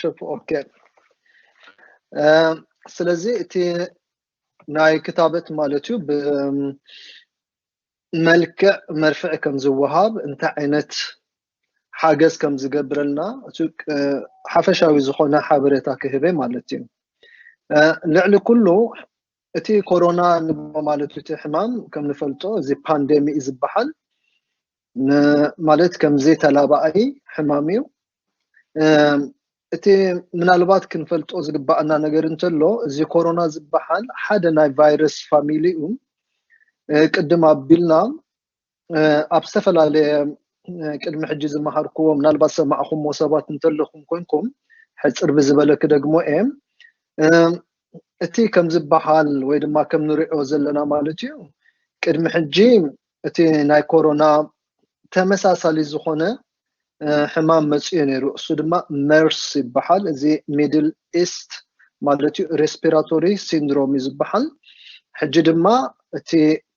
ሹፍ ኦኬ ስለዚ እቲ ናይ ክታበት ማለት እዩ ብመልክዕ መርፍዕ ከም ዝወሃብ እንታይ ዓይነት ሓገዝ ከም ዝገብረልና እቲ ሓፈሻዊ ዝኾነ ሓበሬታ ክህበ ማለት እዩ ልዕሊ ኩሉ እቲ ኮሮና ንብሎ ማለት እቲ ሕማም ከም ንፈልጦ እዚ ፓንደሚ እዩ ዝበሃል ማለት ከምዘይተላባኣይ ሕማም እዩ እቲ ምናልባት ክንፈልጦ ዝግባኣና ነገር እንተሎ እዚ ኮሮና ዝበሃል ሓደ ናይ ቫይረስ ፋሚሊ እዩ ቅድም ኣቢልና ኣብ ዝተፈላለየ ቅድሚ ሕጂ ዝመሃርክዎ ምናልባት ሰማዕኹሞ ሰባት እንተለኹም ኮንኩም ሕፅር ብዝበለ ክደግሞ እየ እቲ ከም ዝበሃል ወይ ድማ ከም ንሪኦ ዘለና ማለት እዩ ቅድሚ ሕጂ እቲ ናይ ኮሮና ተመሳሳሊ ዝኾነ ሕማም መጺኡ ነይሩ። እሱ ድማ መርስ ይበሓል። እዚ ሚድል ኢስት ማለት እዩ ሬስፒራቶሪ ሲንድሮም እዩ ዝበሓል። ሕጂ ድማ እቲ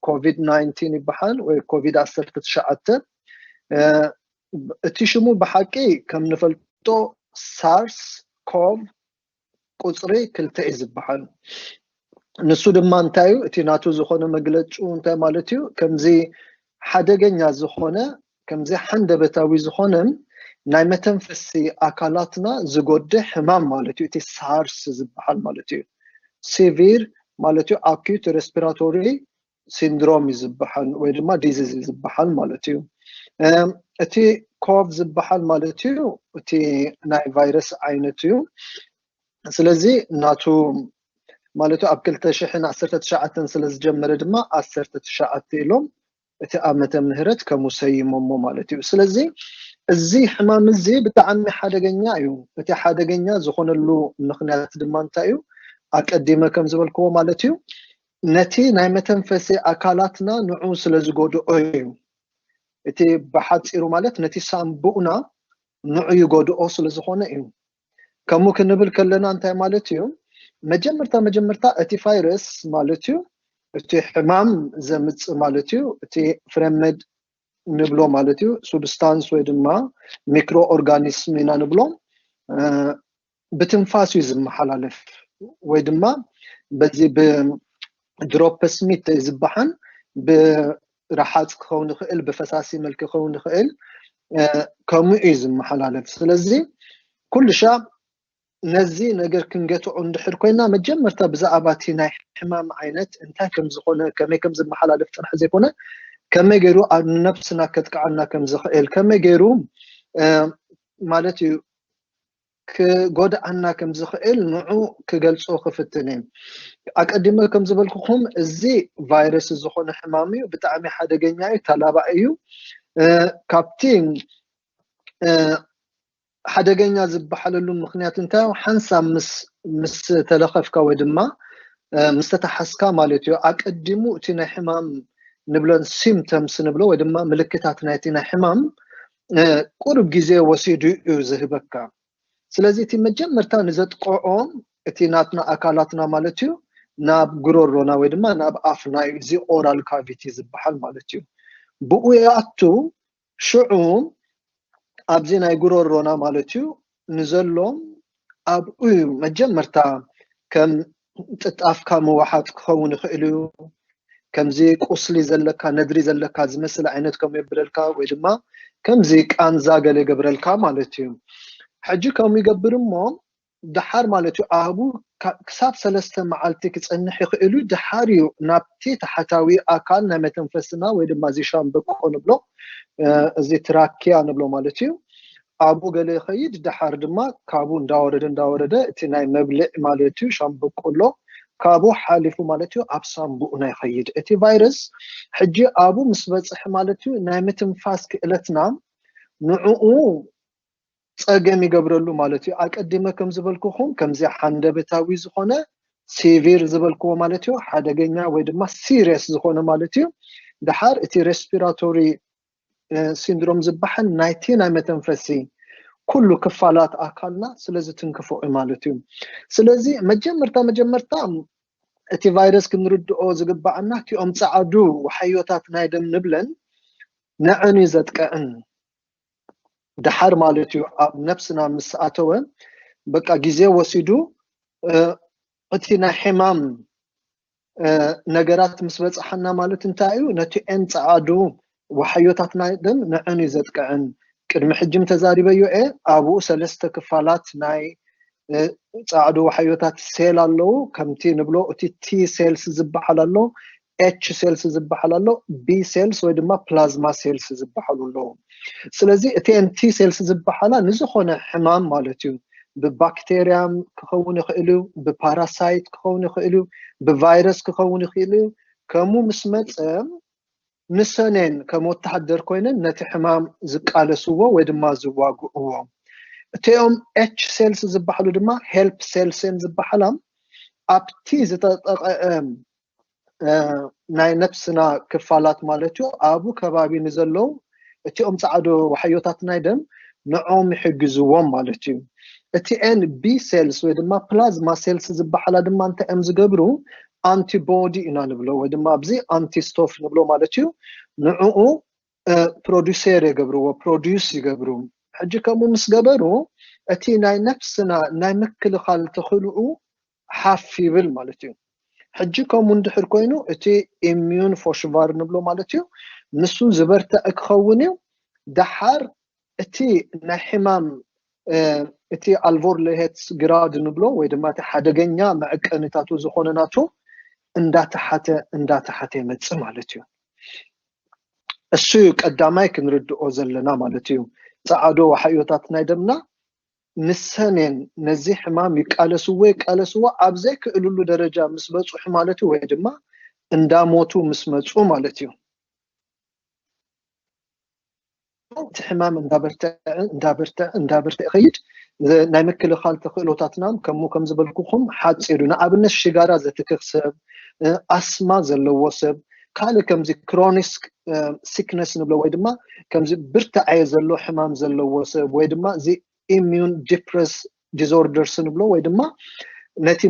ኮቪድ ናይንቲን ይበሓል ወይ ኮቪድ ዓሰርተ ትሽዓተ እቲ ሽሙ ብሓቂ ከም ንፈልጦ ሳርስ ኮቭ ቁጽሪ ክልተ እዩ ዝበሃል። ንሱ ድማ እንታይ እዩ እቲ ናቱ ዝኾነ መግለጭኡ እንታይ ማለት እዩ ከምዚ ሓደገኛ ዝኾነ ከምዚ ሓንደበታዊ ዝኾነን ናይ መተንፈሲ ኣካላትና ዝጎድእ ሕማም ማለት እዩ እቲ ሳርስ ዝበሃል ማለት እዩ ሲቪር ማለት እዩ ኣኪዩት ሬስፒራቶሪ ሲንድሮም እዩ ዝበሃል ወይ ድማ ዲዚዝ እዩ ዝበሃል ማለት እዩ እቲ ኮቭ ዝበሃል ማለት እዩ እቲ ናይ ቫይረስ ዓይነት እዩ ስለዚ ናቱ ማለት ኣብ 219 ስለ ዝጀመረ ድማ 19 ኢሎም እቲ ዓመተ ምህረት ከም ሰይሞሞ ማለት እዩ ስለዚ እዚ ሕማም እዚ ብጣዕሚ ሓደገኛ እዩ እቲ ሓደገኛ ዝኾነሉ ምክንያት ድማ እንታይ እዩ ኣቀዲመ ከም ዝበልክዎ ማለት እዩ ነቲ ናይ መተንፈሲ ኣካላትና ንዑ ስለ ዝጎድኦ እዩ። እቲ ብሓጺሩ ማለት ነቲ ሳንቡእና ንዑ ይጎድኦ ስለ ዝኾነ እዩ። ከምኡ ክንብል ከለና እንታይ ማለት እዩ? መጀመርታ መጀመርታ እቲ ፋይረስ ማለት እዩ እቲ ሕማም ዘምጽእ ማለት እዩ እቲ ፍረመድ ንብሎ ማለት እዩ ሱብስታንስ ወይ ድማ ሚክሮ ኦርጋኒስም ኢና ንብሎ ብትንፋስ እዩ ዝመሓላለፍ ወይ ድማ በዚ ብድሮፕስሚት ዝበሓን ብረሓፅ ክኸውን ይኽእል ብፈሳሲ መልክ ክኸውን ይኽእል ከምኡ እዩ ዝመሓላለፍ ስለዚ ኩሉሻ ነዚ ነገር ክንገትዖ እንድሕር ኮይና መጀመርታ ብዛዕባ እቲ ናይ ሕማም ዓይነት እንታይ ከም ዝኾነ ከመይ ከም ዝመሓላለፍ ጥራሕ ዘይኮነ ከመይ ገይሩ ንነብስና ከጥቅዓና ከም ዝኽእል ከመይ ገይሩ ማለት እዩ ክጎድኣና ከም ዝኽእል ንዑ ክገልጾ ክፍትን እየ። ኣቀዲመ ከም ዝበልኩኹም እዚ ቫይረስ ዝኾነ ሕማም እዩ፣ ብጣዕሚ ሓደገኛ እዩ፣ ተላባዒ እዩ። ካብቲ ሓደገኛ ዝበሓለሉ ምኽንያት እንታይ እዩ? ሓንሳብ ምስ ምስ ተለኸፍካ ወይ ድማ ምስ ተታሓዝካ ማለት እዩ፣ ኣቀዲሙ እቲ ናይ ሕማም ንብለን ሲምተምስ ንብሎ ወይ ድማ ምልክታት ናይቲ ናይ ሕማም ቁሩብ ግዜ ወሲዱ እዩ ዝህበካ ስለዚ እቲ መጀመርታ ንዘጥቆዖም እቲ ናትና ኣካላትና ማለት እዩ ናብ ጉሮሮና ወይ ድማ ናብ ኣፍና እዩ እዚ ኦራል ካቪቲ ዝበሃል ማለት እዩ ብኡ ይኣቱ ሽዑ ኣብዚ ናይ ጉሮሮና ማለት እዩ ንዘሎ ኣብኡ እዩ መጀመርታ ከም ጥጣፍካ ምውሓጥ ክኸውን ይኽእል እዩ ከምዚ ቁስሊ ዘለካ ነድሪ ዘለካ ዝመስል ዓይነት ከም የብለልካ ወይ ድማ ከምዚ ቃንዛ ገለ ይገብረልካ ማለት እዩ ሕጂ ከም ይገብር እሞ ድሓር ማለት እዩ ኣብኡ ክሳብ ሰለስተ መዓልቲ ክፀንሕ ይኽእል እዩ ድሓር እዩ ናብቲ ታሕታዊ ኣካል ናይ መተንፈስና ወይ ድማ እዚ ሻምበቆ ንብሎ እዚ ትራኪያ ንብሎ ማለት እዩ ኣብኡ ገለ ይኸይድ ደሓር ድማ ካብኡ እንዳወረደ እንዳወረደ እቲ ናይ መብልዕ ማለት እዩ ሻምበቆሎ ካብኡ ሓሊፉ ማለት እዩ ኣብ ሳንቡእና ይኸይድ እቲ ቫይረስ ሕጂ ኣብኡ ምስ በጽሐ ማለት እዩ ናይ ምትንፋስ ክእለትና ንዕኡ ጸገም ይገብረሉ ማለት እዩ ኣቀዲመ ከም ዝበልኩኹም ከምዚ ሓንደበታዊ ዝኾነ ሲቪር ዝበልክዎ ማለት እዩ ሓደገኛ ወይ ድማ ሲሪየስ ዝኾነ ማለት እዩ ደሓር እቲ ሬስፒራቶሪ ሲንድሮም ዝበሃል ናይቲ ናይ መተንፈሲ ኩሉ ክፋላት ኣካልና ስለ ዝትንክፎ እዩ ማለት እዩ። ስለዚ መጀመርታ መጀመርታ እቲ ቫይረስ ክንርድኦ ዝግባኣና እቲኦም ጸዓዱ ዋሕዮታት ናይ ደም ንብለን ነዐን እዩ ዘጥቅዕን ደሓር ማለት እዩ ኣብ ነብስና ምስ ኣተወ በቃ ግዜ ወሲዱ እቲ ናይ ሕማም ነገራት ምስ በጽሓና ማለት እንታይ እዩ ነቲ ን ጸዓዱ ዋሓዮታትና ግን ንዕን እዩ ዘጥቅዕን ቅድሚ ሕጂም ተዛሪበዮ እየ ኣብኡ ሰለስተ ክፋላት ናይ ጻዕዱ ዋሓዮታት ሴል ኣለዉ ከምቲ ንብሎ እቲ ቲ ሴልስ ዝበሓል ኣሎ ኤች ሴልስ ዝበሓል ኣሎ ቢ ሴልስ ወይ ድማ ፕላዝማ ሴልስ ዝበሓሉ ኣለዉ ስለዚ እተን ቲ ሴልስ ዝበሃላ ንዝኾነ ሕማም ማለት እዩ ብባክቴርያ ክኸውን ይኽእል እዩ ብፓራሳይት ክኸውን ይኽእል እዩ ብቫይረስ ክኸውን ይኽእል እዩ ከምኡ ምስ መፀ ንሰነን ከም ወተሃደር ኮይነን ነቲ ሕማም ዝቃለስዎ ወይ ድማ ዝዋግእዎ እቲኦም ኤች ሴልስ ዝበሃሉ ድማ ሄልፕ ሴልስን ዝበሃላ ኣብቲ ዝተጠቐ ናይ ነፍስና ክፋላት ማለት እዩ ኣብኡ ከባቢ ንዘለዉ እቲኦም ፃዕዶ ዋሕዮታት ናይ ደም ንዕኦም ይሕግዝዎም ማለት እዩ እቲ ኤን ቢ ሴልስ ወይ ድማ ፕላዝማ ሴልስ ዝበሓላ ድማ እንታይ እዮም ዝገብሩ ኣንቲቦዲ ኢና ንብሎ ወይ ድማ ኣብዚ ኣንቲስቶፍ ንብሎ ማለት እዩ ንዕኡ ፕሮዲሴር የገብርዎ ፕሮዲስ ይገብሩ ሕጂ ከምኡ ምስ ገበሩ እቲ ናይ ነፍስና ናይ ምክልኻል ተኽእልኡ ሓፍ ይብል ማለት እዩ። ሕጂ ከምኡ እንድሕር ኮይኑ እቲ ኢምዩን ፎሽቫር ንብሎ ማለት እዩ ንሱ ዝበርትዐ ክኸውን እዩ ደሓር እቲ ናይ ሕማም እቲ ኣልቮርልሄትስ ግራድ ንብሎ ወይ ድማ እቲ ሓደገኛ መዕቀኒታቱ ዝኾነ ናቱ እንዳተሓተ እንዳተሓተ ይመጽእ ማለት እዩ። እሱ እዩ ቀዳማይ ክንርድኦ ዘለና ማለት እዩ። ጸዓዶ ወሓዮታት ናይ ደምና ምስ ሰሜን ነዚ ሕማም ይቃለስዎ ይቃለስዎ ኣብ ዘይክእልሉ ደረጃ ምስ በጹሑ ማለት እዩ ወይ ድማ እንዳ ሞቱ ምስ መጹ ማለት እዩ። እቲ ሕማም እንዳበርተዐ እንዳበርተዐ እንዳበርተዐ ይኸይድ ናይ ምክልኻል ተኽእሎታትና ከምኡ ከም ዝበልኩኹም ሓጺር እዩ። ንኣብነት ሽጋራ ዘትክኽ ሰብ፣ ኣስማ ዘለዎ ሰብ፣ ካልእ ከምዚ ክሮኒስ ሲክነስ ንብሎ ወይ ድማ ከምዚ ብርታዐ ዘሎ ሕማም ዘለዎ ሰብ ወይ ድማ እዚ ኢሚዩን ዲፕረስ ዲስኦርደርስ ንብሎ ወይ ድማ ነቲ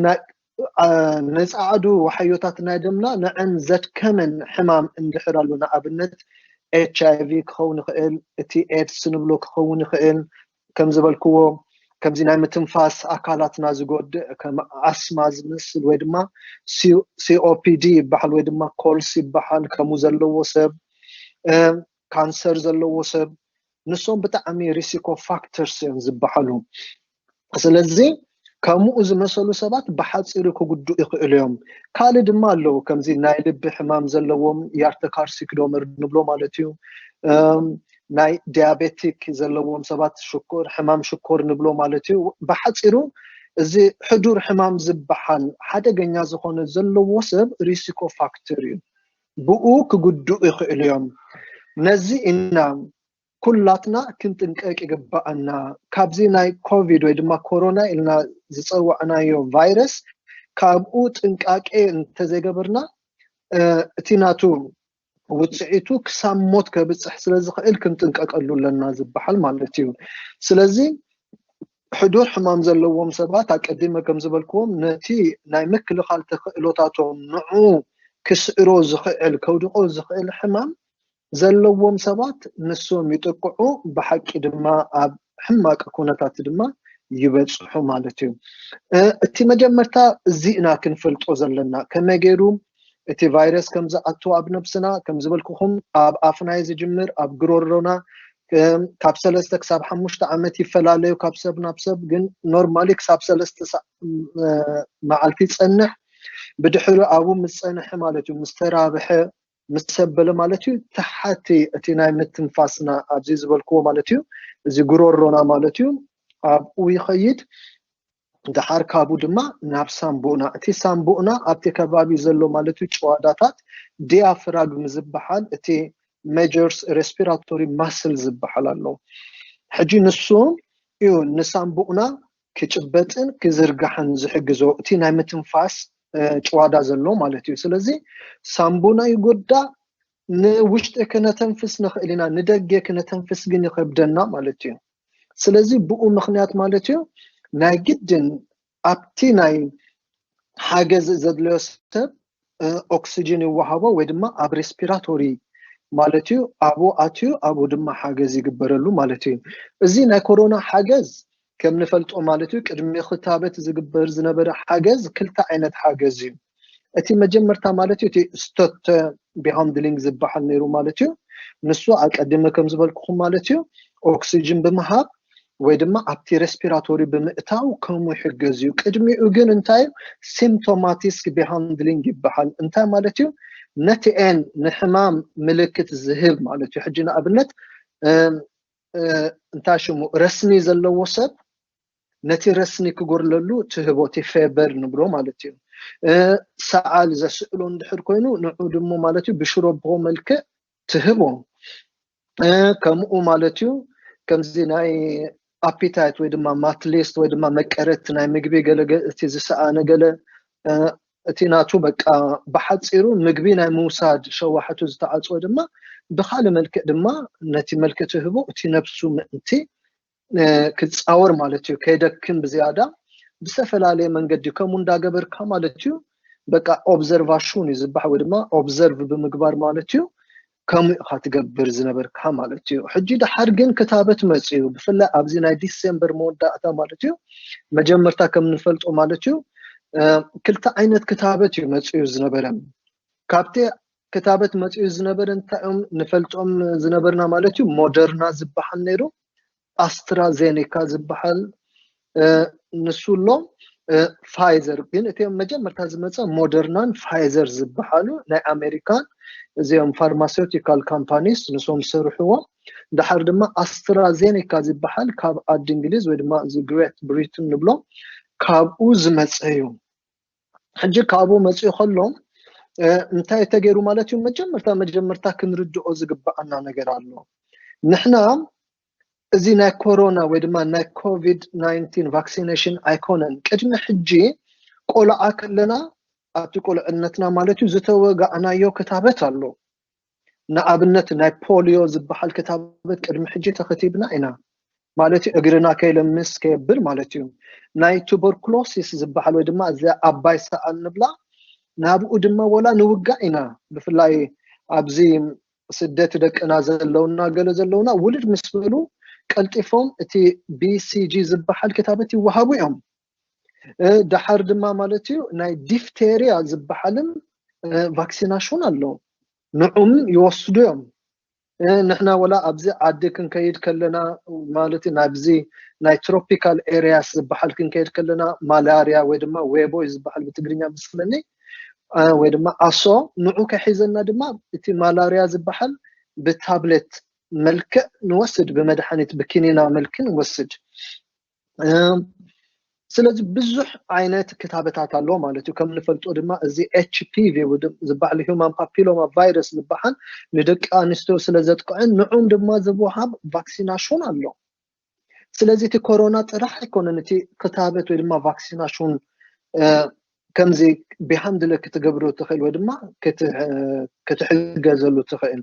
ንፃዓዱ ዋሕዮታት ናይ ደምና ንዐን ዘድከመን ሕማም እንድሕር ኣሎ ንኣብነት ኤች ኣይቪ ክኸውን ይኽእል እቲ ኤድስ ንብሎ ክኸውን ይኽእል ከም ዝበልክዎ ከምዚ ናይ ምትንፋስ ኣካላትና ዝጎድእ ከም ኣስማ ዝመስል ወይ ድማ ሲኦፒዲ ይበሃል ወይ ድማ ኮልስ ይበሃል ከምኡ ዘለዎ ሰብ ካንሰር ዘለዎ ሰብ ንሶም ብጣዕሚ ሪሲኮ ፋክተርስ እዮም ዝበሃሉ ስለዚ ከሙኡ ዝመሰሉ ሰባት ብሓጺሩ ክጉድኡ ይኽእሉ እዮም ካልእ ድማ ኣለዉ ከምዚ ናይ ልቢ ሕማም ዘለዎም ያርተካርሲክዶመር ንብሎ ማለት እዩ ናይ ዲያቤቲክ ዘለዎም ሰባት ሽኮር ሕማም ሽኮር ንብሎ ማለት እዩ ብሓጺሩ እዚ ሕዱር ሕማም ዝበሓል ሓደገኛ ዝኾነ ዘለዎ ሰብ ሪሲኮ ፋክተር እዩ ብኡ ክጉድኡ ይኽእሉ እዮም ነዚ ኢና ኩላትና ክንጥንቀቅ ይግበኣና ካብዚ ናይ ኮቪድ ወይ ድማ ኮሮና ኢልና ዝጸዋዕናዮ ቫይረስ ካብኡ ጥንቃቄ እንተዘይገበርና እቲ ናቱ ውጽዒቱ ክሳብ ሞት ከብጽሕ ስለ ዝኽእል ክንጥንቀቀሉ ኣለና ዝበሃል ማለት እዩ ስለዚ ሕዱር ሕማም ዘለዎም ሰባት ኣቀዲመ ከም ዝበልክዎም ነቲ ናይ ምክልኻል ተኽእሎታቶም ንዑ ክስዕሮ ዝኽዕል ከውድቆ ዝኽእል ሕማም ዘለዎም ሰባት ንሶም ይጥቅዑ ብሓቂ ድማ ኣብ ሕማቅ ኩነታት ድማ ይበጽሑ ማለት እዩ እቲ መጀመርታ እዚ ኢና ክንፈልጦ ዘለና ከመይ ገይሩ እቲ ቫይረስ ከም ዝኣቱ ኣብ ነብስና ከም ዝበልኩኹም ኣብ ኣፍና እዩ ዝጅምር ኣብ ግሮሮና ካብ ሰለስተ ክሳብ ሓሙሽተ ዓመት ይፈላለዩ ካብ ሰብ ናብ ሰብ ግን ኖርማሊ ክሳብ ሰለስተ መዓልቲ ይፀንሕ ብድሕሪ ኣብኡ ምስ ፀንሐ ማለት እዩ ምስ ተራብሐ ምስ ሰብ በለ ማለት እዩ ትሓቲ እቲ ናይ ምትንፋስና ኣብዚ ዝበልክዎ ማለት እዩ እዚ ጉሮሮና ማለት እዩ ኣብኡ ይኸይድ ድሓር ካብኡ ድማ ናብ ሳምቡእና እቲ ሳምቡእና ኣብቲ ከባቢ ዘሎ ማለት እዩ ጭዋዳታት ዲያፍራግም ዝበሃል እቲ ሜጀርስ ሬስፒራቶሪ ማስል ዝበሃል ኣሎ ሕጂ ንሱ እዩ ንሳምቡእና ክጭበጥን ክዝርጋሕን ዝሕግዞ እቲ ናይ ምትንፋስ ጭዋዳ ዘሎ ማለት እዩ። ስለዚ ሳንቡና ይጎዳእ፣ ንውሽጢ ክነተንፍስ ንኽእል ኢና፣ ንደገ ክነተንፍስ ግን ይኸብደና ማለት እዩ። ስለዚ ብኡ ምኽንያት ማለት እዩ ናይ ግድን ኣብቲ ናይ ሓገዝ ዘድለዮ ሰብ ኦክስጅን ይወሃቦ ወይ ድማ ኣብ ሬስፒራቶሪ ማለት እዩ ኣብኡ ኣትዩ ኣብኡ ድማ ሓገዝ ይግበረሉ ማለት እዩ እዚ ናይ ኮሮና ሓገዝ ከም ንፈልጦ ማለት እዩ ቅድሚ ክታበት ዝግበር ዝነበረ ሓገዝ ክልተ ዓይነት ሓገዝ እዩ እቲ መጀመርታ ማለት እዩ እቲ ስቶት ቢሃንድሊንግ ዝበሃል ነይሩ ማለት እዩ ንሱ ኣቀድመ ከም ዝበልኩኹም ማለት እዩ ኦክስጅን ብምሃብ ወይ ድማ ኣብቲ ረስፒራቶሪ ብምእታው ከምኡ ይሕገዝ እዩ። ቅድሚኡ ግን እንታይ እዩ ሲምፕቶማቲስክ ቢሃንድሊንግ ይበሃል። እንታይ ማለት እዩ ነቲ ኤን ንሕማም ምልክት ዝህብ ማለት እዩ። ሕጂ ንኣብነት እንታይ ሽሙ ረስኒ ዘለዎ ሰብ ነቲ ረስኒ ክጎርለሉ ትህቦ እቲ ፌበር ንብሎ ማለት እዩ። ሰዓል ዘስእሎ እንድሕር ኮይኑ ንዑ ድሞ ማለት እዩ ብሽሮቦ መልክዕ ትህቦ። ከምኡ ማለት እዩ ከምዚ ናይ ኣፒታይት ወይ ድማ ማትሊስት ወይ ድማ መቀረት ናይ ምግቢ ገለ እቲ ዝሰኣነ ገለ እቲ ናቱ በቃ ብሓፂሩ ምግቢ ናይ ምውሳድ ሸዋሕቱ ዝተዓፅወ ድማ ብካልእ መልክዕ ድማ ነቲ መልክዕ ትህቦ እቲ ነብሱ ምእንቲ ክፃወር ማለት እዩ ከይደክም ብዝያዳ ብዝተፈላለየ መንገዲ ከምኡ እንዳገበርካ ማለት እዩ በቃ ኦብዘርቫሽን እዩ ዝበሃል ወይ ድማ ኦብዘርቭ ብምግባር ማለት እዩ ከምኡ ኢኻ ትገብር ዝነበርካ ማለት እዩ ሕጂ ድሓር ግን ክታበት መፅኡ ብፍላይ ኣብዚ ናይ ዲሴምበር መወዳእታ ማለት እዩ መጀመርታ ከም ንፈልጦ ማለት እዩ ክልተ ዓይነት ክታበት እዩ መፅኡ ዝነበረ ካብቲ ክታበት መጺኡ ዝነበረ እንታይ እዮም ንፈልጦም ዝነበርና ማለት እዩ ሞደርና ዝበሃል ነይሩ ኣስትራዜኒካ ዝበሃል ንሱ ኣሎ ፋይዘር ግን እቲ መጀመርታ ዝመፀ ሞደርናን ፋይዘር ዝበሃሉ ናይ ኣሜሪካን እዚኦም ፋርማሴውቲካል ካምፓኒስ ንሶም ዝሰርሕዎ ድሓር ድማ ኣስትራዜኒካ ዝበሃል ካብ ዓዲ እንግሊዝ ወይ ድማ እዚ ግሬት ብሪትን ንብሎ ካብኡ ዝመፀ እዩ ሕጂ ካብኡ መጺኡ ከሎ እንታይ ተገይሩ ማለት እዩ መጀመርታ መጀመርታ ክንርድኦ ዝግብኣና ነገር ኣሎ ንሕና እዚ ናይ ኮሮና ወይ ድማ ናይ ኮቪድ 19 ቫክሲነሽን ኣይኮነን ቅድሚ ሕጂ ቆልዓ ከለና ኣብቲ ቁልዕነትና ማለት እዩ ዝተወጋእናዮ ክታበት ኣሎ ንኣብነት ናይ ፖልዮ ዝበሃል ክታበት ቅድሚ ሕጂ ተኸቲብና ኢና ማለት እዩ፣ እግርና ከይለምስ ከየብል ማለት እዩ። ናይ ቱበርኩሎሲስ ዝበሃል ወይ ድማ እዚ ኣባይ ሰኣን ንብላ ናብኡ ድማ ወላ ንውጋእ ኢና ብፍላይ ኣብዚ ስደት ደቅና ዘለውና ገለ ዘለውና ውልድ ምስ በሉ ቀልጢፎም እቲ BCG ዝበሃል ክታበት ይወሃቡ እዮም። ደሓር ድማ ማለት እዩ ናይ ዲፍቴርያ ዝበሓልን ቫክሲናሹን ኣሎ ንዑም ይወስዱ እዮም ንሕና ወላ ኣብዚ ዓዲ ክንከይድ ከለና ማለት ናብዚ ናይ ትሮፒካል ኤርያስ ዝበሓል ክንከይድ ከለና ማላርያ ወይ ድማ ዌቦይ ዝበሓል ብትግርኛ ምስለኒ ወይ ድማ ኣሶ ንዑ ከሒዘና ድማ እቲ ማላርያ ዝበሓል ብታብሌት መልክዕ ንወስድ ብመድሓኒት ብኪኒና መልክ ንወስድ ስለዚ ብዙሕ ዓይነት ክታበታት ኣሎ ማለት እዩ ከም ንፈልጦ ድማ እዚ ኤችፒቪ ዝበዓል ሁማን ፓፒሎማ ቫይረስ ዝበሃል ንደቂ ኣንስትዮ ስለ ዘጥቅዕን ንዑም ድማ ዝወሃብ ቫክሲናሽን ኣሎ ስለዚ እቲ ኮሮና ጥራሕ ኣይኮነን እቲ ክታበት ወይ ድማ ቫክሲናሽን ከምዚ ብሃንድለ ክትገብሮ ትክእል ወይ ድማ ክትሕገዘሉ ትክእል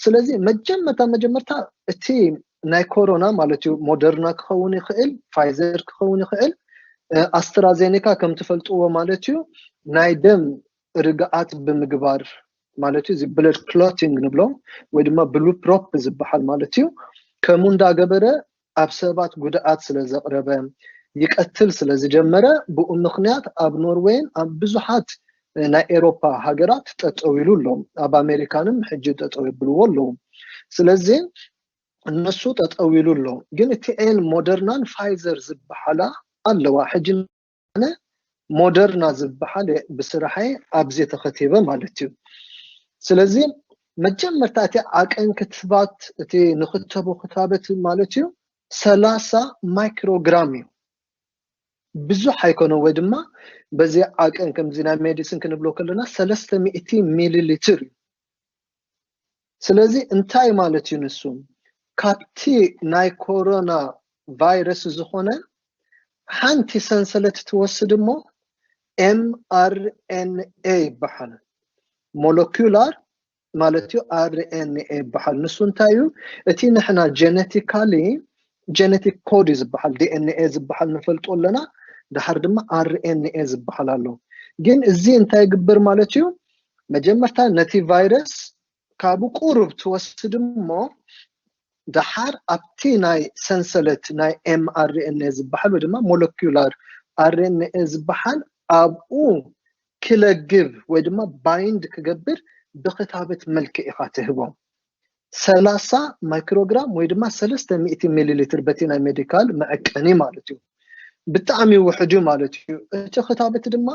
ስለዚ መጀመታ መጀመርታ እቲ ናይ ኮሮና ማለት እዩ ሞደርና ክከውን ይክእል ፋይዘር ክከውን ይክእል ኣስትራዜኒካ ከም ትፈልጥዎ ማለት እዩ ናይ ደም ርግኣት ብምግባር ማለት እዩ እዚ ብለድ ክሎቲንግ ንብሎ ወይ ድማ ብሉፕሮፕ ዝበሃል ማለት እዩ ከምኡ እንዳገበረ ኣብ ሰባት ጉድኣት ስለ ዘቕረበ ይቀትል ስለ ዝጀመረ ብኡ ምኽንያት ኣብ ኖርወይን ኣብ ብዙሓት ናይ ኤሮፓ ሃገራት ጠጠው ኢሉ ኣሎ ኣብ ኣሜሪካንም ሕጂ ጠጠው የብልዎ ኣለዉ ስለዚ እነሱ ጠጠው ኢሉ ኣሎ ግን እቲ ን ሞደርናን ፋይዘር ዝበሓላ ኣለዋ ሕጂ ኣነ ሞደርና ዝበሃል ብስራሐይ ኣብዚ ተኸቲበ ማለት እዩ። ስለዚ መጀመርታ እቲ ዓቀን ክትባት እቲ ንኽተቦ ክታበት ማለት እዩ ሰላሳ ማይክሮግራም እዩ። ብዙሕ ኣይኮነን ወይ ድማ በዚ ዓቀን ከምዚ ናይ ሜዲሲን ክንብሎ ከለና ሰለስተ ሚእቲ ሚሊ ሊትር እዩ። ስለዚ እንታይ ማለት እዩ ንሱ ካብቲ ናይ ኮሮና ቫይረስ ዝኾነ ሓንቲ ሰንሰለት ትወስድ እሞ mRNA ይበሓል ሞለኩላር ማለት እዩ RNA ይበሓል ንሱ እንታይ እዩ እቲ ንሕና ጀነቲካሊ ጀነቲክ ኮድ እዩ ዝብሃል ዲኤንኤ ዝብሃል ንፈልጦ ኣለና ድሓር ድማ ኣርኤንኤ ዝብሃል ኣሎ ግን እዚ እንታይ ይግብር ማለት እዩ መጀመርታ ነቲ ቫይረስ ካብኡ ቁሩብ ትወስድ እሞ ድሓር ኣብቲ ናይ ሰንሰለት ናይ ኤም ኣርኤንኤ ዝብሃል ወይ ድማ ሞለኪላር ኣርኤንኤ ዝብሃል ኣብኡ ክለግብ ወይ ድማ ባይንድ ክገብር ብክታበት መልክዕ ኢኻ ትህቦም ሰላሳ ማይክሮግራም ወይ ድማ ሰለስተ ሚእቲ ሚሊ ሊትር በቲ ናይ ሜዲካል መዐቀኒ ማለት እዩ ብጣዕሚ ውሕድ እዩ ማለት እዩ እቲ ክታበት ድማ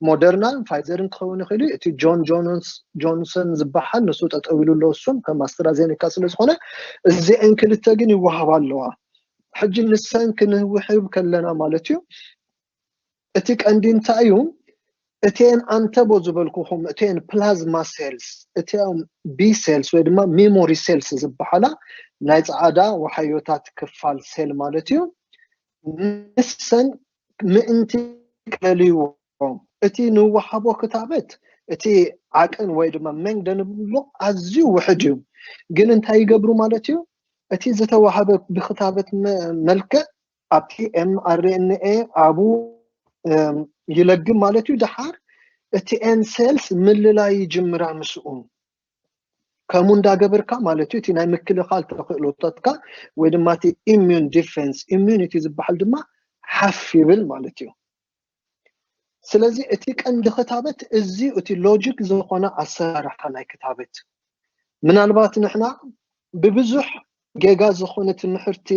ሞደርናን ፋይዘርን ክኸውን ይኽእል እዩ እቲ ጆን ጆንሰን ዝበሃል ንሱ ጠጠው ኢሉ ኣሎ እሱም ከም ኣስትራዜኒካ ስለ ዝኾነ እዚአን ክልተ ግን ይወሃባ ኣለዋ ሕጂ ንሰን ክንውሕብ ከለና ማለት እዩ እቲ ቀንዲ እንታይ እዩ እቴን ኣንተቦ ዝበልኩኹም እቴን ፕላዝማ ሴልስ እቴን ቢ ሴልስ ወይ ድማ ሚሞሪ ሴልስ ዝበሓላ ናይ ጸዓዳ ወሓዮታት ክፋል ሴል ማለት እዩ ንሰን ምእንቲ ክለልይዎ እቲ ንወሃቦ ክታበት እቲ ዓቅን ወይ ድማ መንግደ ንብሎ ኣዝዩ ውሕድ እዩ ግን እንታይ ይገብሩ ማለት እዩ እቲ ዝተዋህበ ብክታበት መልክዕ ኣብቲ ኤምኣርኤንኤ ኣብኡ ይለግም ማለት እዩ ደሓር እቲ ኤን ሴልስ ምልላይ ይጅምራ ምስኡ ከምኡ እንዳገበርካ ማለት እዩ እቲ ናይ ምክልኻል ተኽእሎታትካ ወይ ድማ እቲ ኢሚዩን ዲፌንስ ኢሚዩኒቲ ዝበሃል ድማ ሓፍ ይብል ማለት እዩ ስለዚ እቲ ቀንዲ ክታበት እዚ እቲ ሎጂክ ዝኾነ ኣሰራርሓ ናይ ክታበት ምናልባት ንሕና ብብዙሕ ጌጋ ዝኾነ ትምህርቲ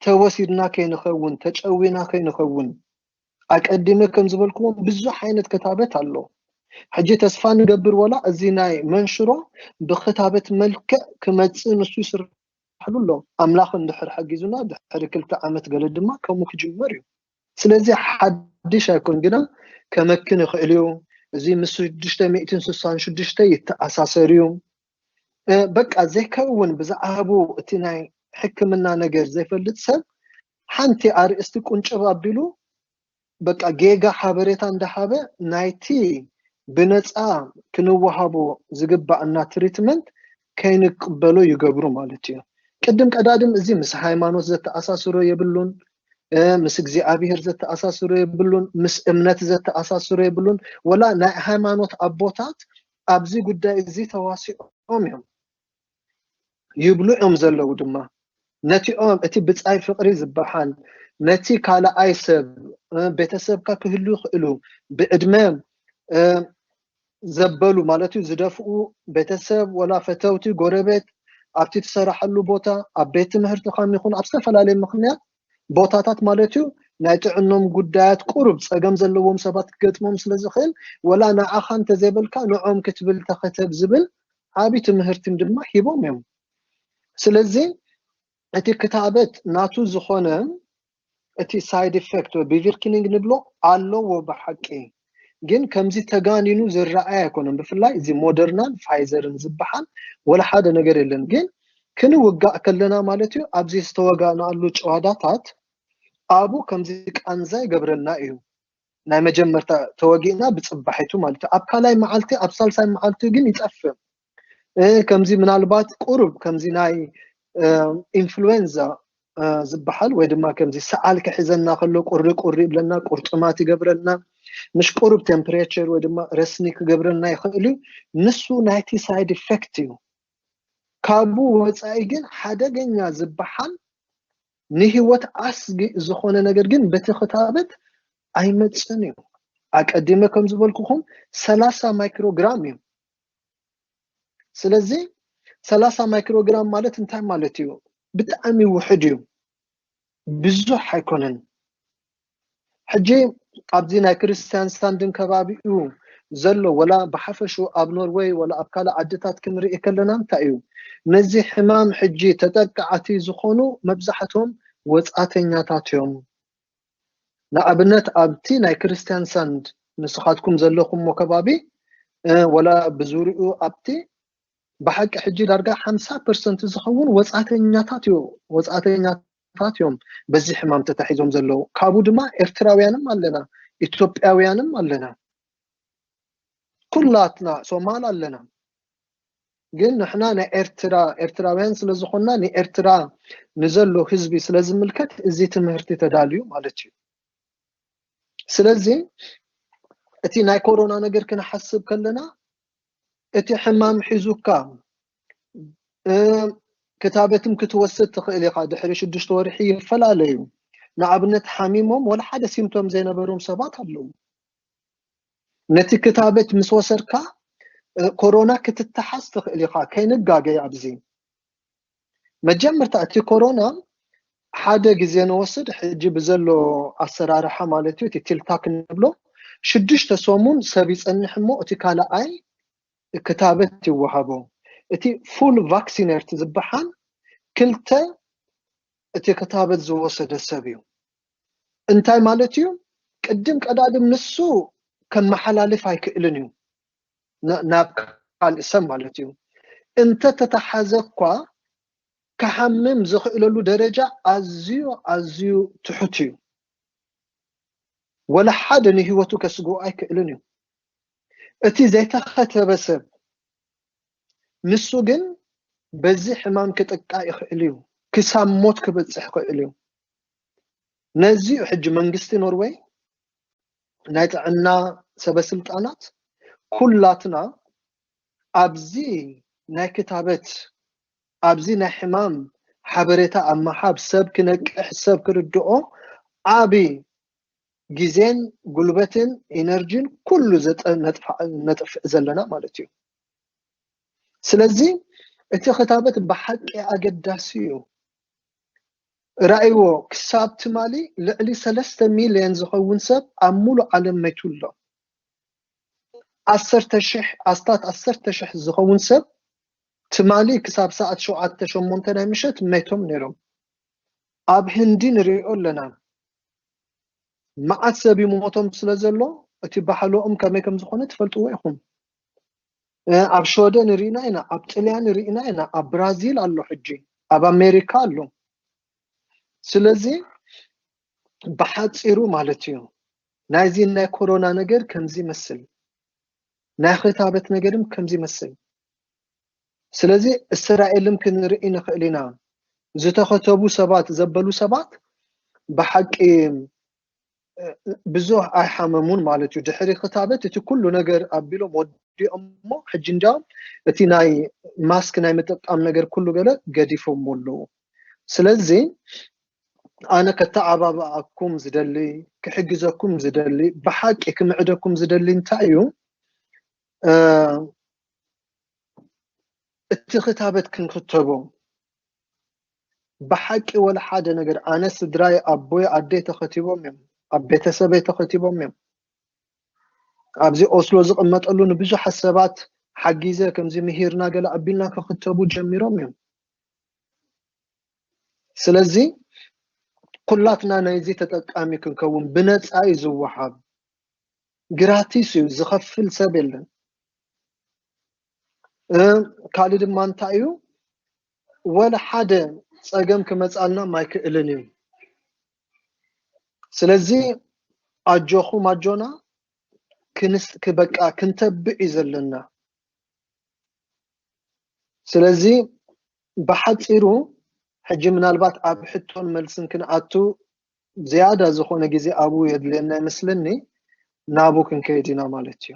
ተወሲድና ከይንኸውን ተጨዊና ከይንኸውን ኣቀዲመ ከም ዝበልክዎም ብዙሕ ዓይነት ክታበት ኣሎ ሕጂ ተስፋ ንገብር ወላ እዚ ናይ መንሽሮ ብክታበት መልክዕ ክመጽእ ንሱ ይስርሕ ይሰርሕሉ ኣሎ ኣምላኽ እንድሕር ሐጊዙና ድሕሪ ክልተ ዓመት ገለ ድማ ከምኡ ክጅመር እዩ ስለዚ ሓድሽ ኣይኮን ግና ከመክን ይኽእል እዩ እዚ ምስ ሽዱሽተ ሚእትን ስሳን ሽዱሽተ ይተኣሳሰር እዩ በቃ ዘይከ እውን ብዛዕባቡ እቲ ናይ ሕክምና ነገር ዘይፈልጥ ሰብ ሓንቲ ኣርእስቲ ቁንጭብ ኣቢሉ በቃ ጌጋ ሓበሬታ እንዳሃበ ናይቲ ብነፃ ክንወሃቦ ዝግባእና ትሪትመንት ከይንቅበሎ ይገብሩ ማለት እዩ ቅድም ቀዳድም እዚ ምስ ሃይማኖት ዘተኣሳስሮ የብሉን ምስ እግዚኣብሔር ዘተኣሳስሮ የብሉን ምስ እምነት ዘተኣሳስሮ የብሉን ወላ ናይ ሃይማኖት ኣቦታት ኣብዚ ጉዳይ እዚ ተዋሲኦም እዮም ይብሉ እዮም ዘለዉ ድማ ነቲኦም እቲ ብጻይ ፍቕሪ ዝበሃል ነቲ ካልኣይ ሰብ ቤተሰብካ ክህሉ ይኽእሉ ብዕድመ ዘበሉ ማለት እዩ ዝደፍኡ ቤተሰብ ወላ ፈተውቲ ጎረቤት ኣብቲ ትሰራሐሉ ቦታ ኣብ ቤት ትምህርትኻን ይኹን ኣብ ዝተፈላለየ ምክንያት ቦታታት ማለትዩ ናይ ጥዕኖም ጉዳያት ቁሩብ ጸገም ዘለዎም ሰባት ክገጥሞም ስለ ዝኽእል ወላ ንዓኻ እንተዘይበልካ ንዖም ክትብል ተኸተብ ዝብል ዓቢ ትምህርቲም ድማ ሂቦም እዮም ስለዚ እቲ ክታበት ናቱ ዝኾነ እቲ ሳይድ ኢፌክት ወይ ቢቪርኪኒንግ ንብሎ ኣለዎ ብሓቂ ግን ከምዚ ተጋኒኑ ዝረኣይ ኣይኮነን ብፍላይ እዚ ሞደርናን ፋይዘርን ዝበሃል ወላ ሓደ ነገር የለን ግን ክንውጋእ ከለና ማለት እዩ ኣብዚ ዝተወጋእናሉ ጨዋዳታት ኣብኡ ከምዚ ቃንዛ ይገብረልና እዩ ናይ መጀመርታ ተወጊእና ብፅባሒቱ ማለት እዩ ኣብ ካልኣይ መዓልቲ ኣብ ሳልሳይ መዓልቲ ግን ይጠፍእ ከምዚ ምናልባት ቁሩብ ከምዚ ናይ ኢንፍሉዌንዛ ዝበሃል ወይ ድማ ከምዚ ሰዓል ክሕዘና ከሎ ቁሪ ቁሪ ይብለና ቁርጥማት ይገብረና ምሽ ቁሩብ ቴምፕሬቸር ወይ ድማ ረስኒ ክገብረና ይኽእል እዩ ንሱ ናይቲ ሳይድ ኢፌክት እዩ ካብኡ ወፃኢ ግን ሓደገኛ ዝበሃል ንህይወት ኣስጊ ዝኾነ ነገር ግን በቲ ክታበት ኣይመፅን እዩ ኣቀዲመ ከም ዝበልኩኹም ሰላሳ ማይክሮግራም እዩ ስለዚ ሰላሳ ማይክሮግራም ማለት እንታይ ማለት እዩ? ብጣዕሚ ውሕድ እዩ፣ ብዙሕ ኣይኮነን። ሕጂ ኣብዚ ናይ ክርስትያን ሳንድን ከባቢኡ ዘሎ ወላ ብሓፈሹ ኣብ ኖርወይ ወላ ኣብ ካልእ ዓድታት ክንርኢ ከለና እንታይ እዩ ነዚ ሕማም ሕጂ ተጠቃዕቲ ዝኾኑ መብዛሕቶም ወጻእተኛታት እዮም። ንኣብነት ኣብቲ ናይ ክርስትያንሳንድ ንስኻትኩም ዘለኹምዎ ከባቢ ወላ ብዙርኡ ኣብቲ ብሓቂ ሕጂ ዳርጋ ሓምሳ ፐርሰንት ዝኸውን ወጻእተኛታት እዩ ወጻእተኛ ታት እዮም በዚ ሕማም ተታሒዞም ዘለዉ ካብኡ ድማ ኤርትራውያንም ኣለና ኢትዮጵያውያንም ኣለና ኩላትና ሶማል ኣለና ግን ንሕና ናይ ኤርትራ ኤርትራውያን ስለ ዝኾንና ንኤርትራ ንዘሎ ህዝቢ ስለ ዝምልከት እዚ ትምህርቲ ተዳልዩ ማለት እዩ ስለዚ እቲ ናይ ኮሮና ነገር ክንሓስብ ከለና እቲ ሕማም ሒዙካ ክታበትም ክትወስድ ትኽእል ኢኻ ድሕሪ ሽዱሽተ ወርሒ ይፈላለዩ ንኣብነት ሓሚሞም ወላ ሓደ ሲምቶም ዘይነበሮም ሰባት ኣለዉ ነቲ ክታበት ምስ ወሰድካ ኮሮና ክትተሓዝ ትኽእል ኢኻ ከይንጋገ ኣብዚ መጀመርታ እቲ ኮሮና ሓደ ግዜ ንወስድ ሕጂ ብዘሎ ኣሰራርሓ ማለት እዩ እቲ ቲልታክ ንብሎ ሽዱሽተ ሰሙን ሰብ ይጸንሕ እሞ እቲ ካልኣይ ክታበት ይወሃቦ እቲ ፉል ቫክሲነርት ዝበሓል ክልተ እቲ ክታበት ዝወሰደ ሰብ እዩ እንታይ ማለት እዩ ቅድም ቀዳድም ንሱ ከመሓላልፍ ኣይክእልን እዩ ናብ ካልእ ሰብ ማለት እዩ እንተተተሓዘ እኳ ክሓምም ዝኽእለሉ ደረጃ ኣዝዩ ኣዝዩ ትሑት እዩ ወላ ሓደ ንህይወቱ ከስግኡ ኣይክእልን እዩ እቲ ዘይተኸተበ ሰብ ንሱ ግን በዚ ሕማም ክጥቃ ይኽእል እዩ ክሳብ ሞት ክበፅሕ ይኽእል እዩ ነዚዩ ሕጂ መንግስቲ ኖርወይ ናይ ጥዕና ሰበ ስልጣናት ኩላትና ኣብዚ ናይ ክታበት ኣብዚ ናይ ሕማም ሓበሬታ ኣብ ምሓብ ሰብ ክነቅሕ ሰብ ክርድኦ ዓቢ ግዜን ጉልበትን ኢነርጂን ኩሉ ነጥፍእ ዘለና ማለት እዩ ስለዚ እቲ ክታበት ብሓቂ ኣገዳሲ እዩ ርኣይዎ፣ ክሳብ ትማሊ ልዕሊ ሰለስተ ሚልዮን ዝኸውን ሰብ ኣብ ምሉእ ዓለም መይቱ ኣሎ። ዓሰርተ ሽሕ፣ ኣስታት ዓሰርተ ሽሕ ዝኸውን ሰብ ትማሊ ክሳብ ሰዓት ሸውዓተ፣ ሸሞንተ ናይ ምሸት መይቶም ነይሮም። ኣብ ህንዲ ንርእዮ ኣለና፣ መዓት ሰብ ይሞቶም ስለ ዘሎ እቲ ባሕሎኦም ከመይ ከም ዝኾነ ትፈልጥዎ ኢኹም። ኣብ ሸወደን ርኢና ኢና ኣብ ጥልያን ርኢና ኢና ኣብ ብራዚል ኣሎ ሕጂ ኣብ ኣሜሪካ ኣሎ ስለዚ ብሓፂሩ ማለት እዩ ናይዚ ናይ ኮሮና ነገር ከምዚ ይመስል ናይ ክታበት ነገርም ከምዚ ይመስል ስለዚ እስራኤልም ክንርኢ ንኽእል ኢና ዝተኸተቡ ሰባት ዘበሉ ሰባት ብሓቂ ብዙህ ኣይሓመሙን ማለት እዩ ድሕሪ ክታበት እቲ ኩሉ ነገር ኣቢሎም ወዲኦሞ ሕጂ እንዲያውም እቲ ናይ ማስክ ናይ ምጥቃም ነገር ኩሉ ገለ ገዲፎሞ ኣለዉ ስለዚ ኣነ ከተዓባብኣኩም ዝደሊ ክሕግዘኩም ዝደሊ ብሓቂ ክምዕደኩም ዝደሊ እንታይ እዩ እቲ ክታበት ክንክተቦ ብሓቂ ወላ ሓደ ነገር ኣነ ስድራይ ኣቦይ ኣደይ ተኸቲቦም እዮም ኣብ ቤተሰበይ ተኸቲቦም እዮም ኣብዚ ኦስሎ ዝቕመጠሉ ንብዙሓት ሰባት ሓጊዘ ከምዚ ምሂርና ገለ ኣቢልና ክኽተቡ ጀሚሮም እዮም ስለዚ ኩላትና ናይዚ ተጠቃሚ ክንከውን ብነፃ እዩ ዝወሃብ ግራቲስ እዩ ዝኸፍል ሰብ የለን ካልእ ድማ እንታይ እዩ ወላ ሓደ ጸገም ክመጻልናም ኣይክእልን እዩ ስለዚ ኣጆኹም ኣጆና ክንስ ክበቃ ክንተብዕ እዩ ዘለና ስለዚ ብሓጺሩ ሕጂ ምናልባት ኣብ ሕቶን መልስን ክንኣቱ ዝያዳ ዝኾነ ግዜ ኣብኡ የድልየና ይመስለኒ ናብኡ ክንከይድ ኢና ማለት እዩ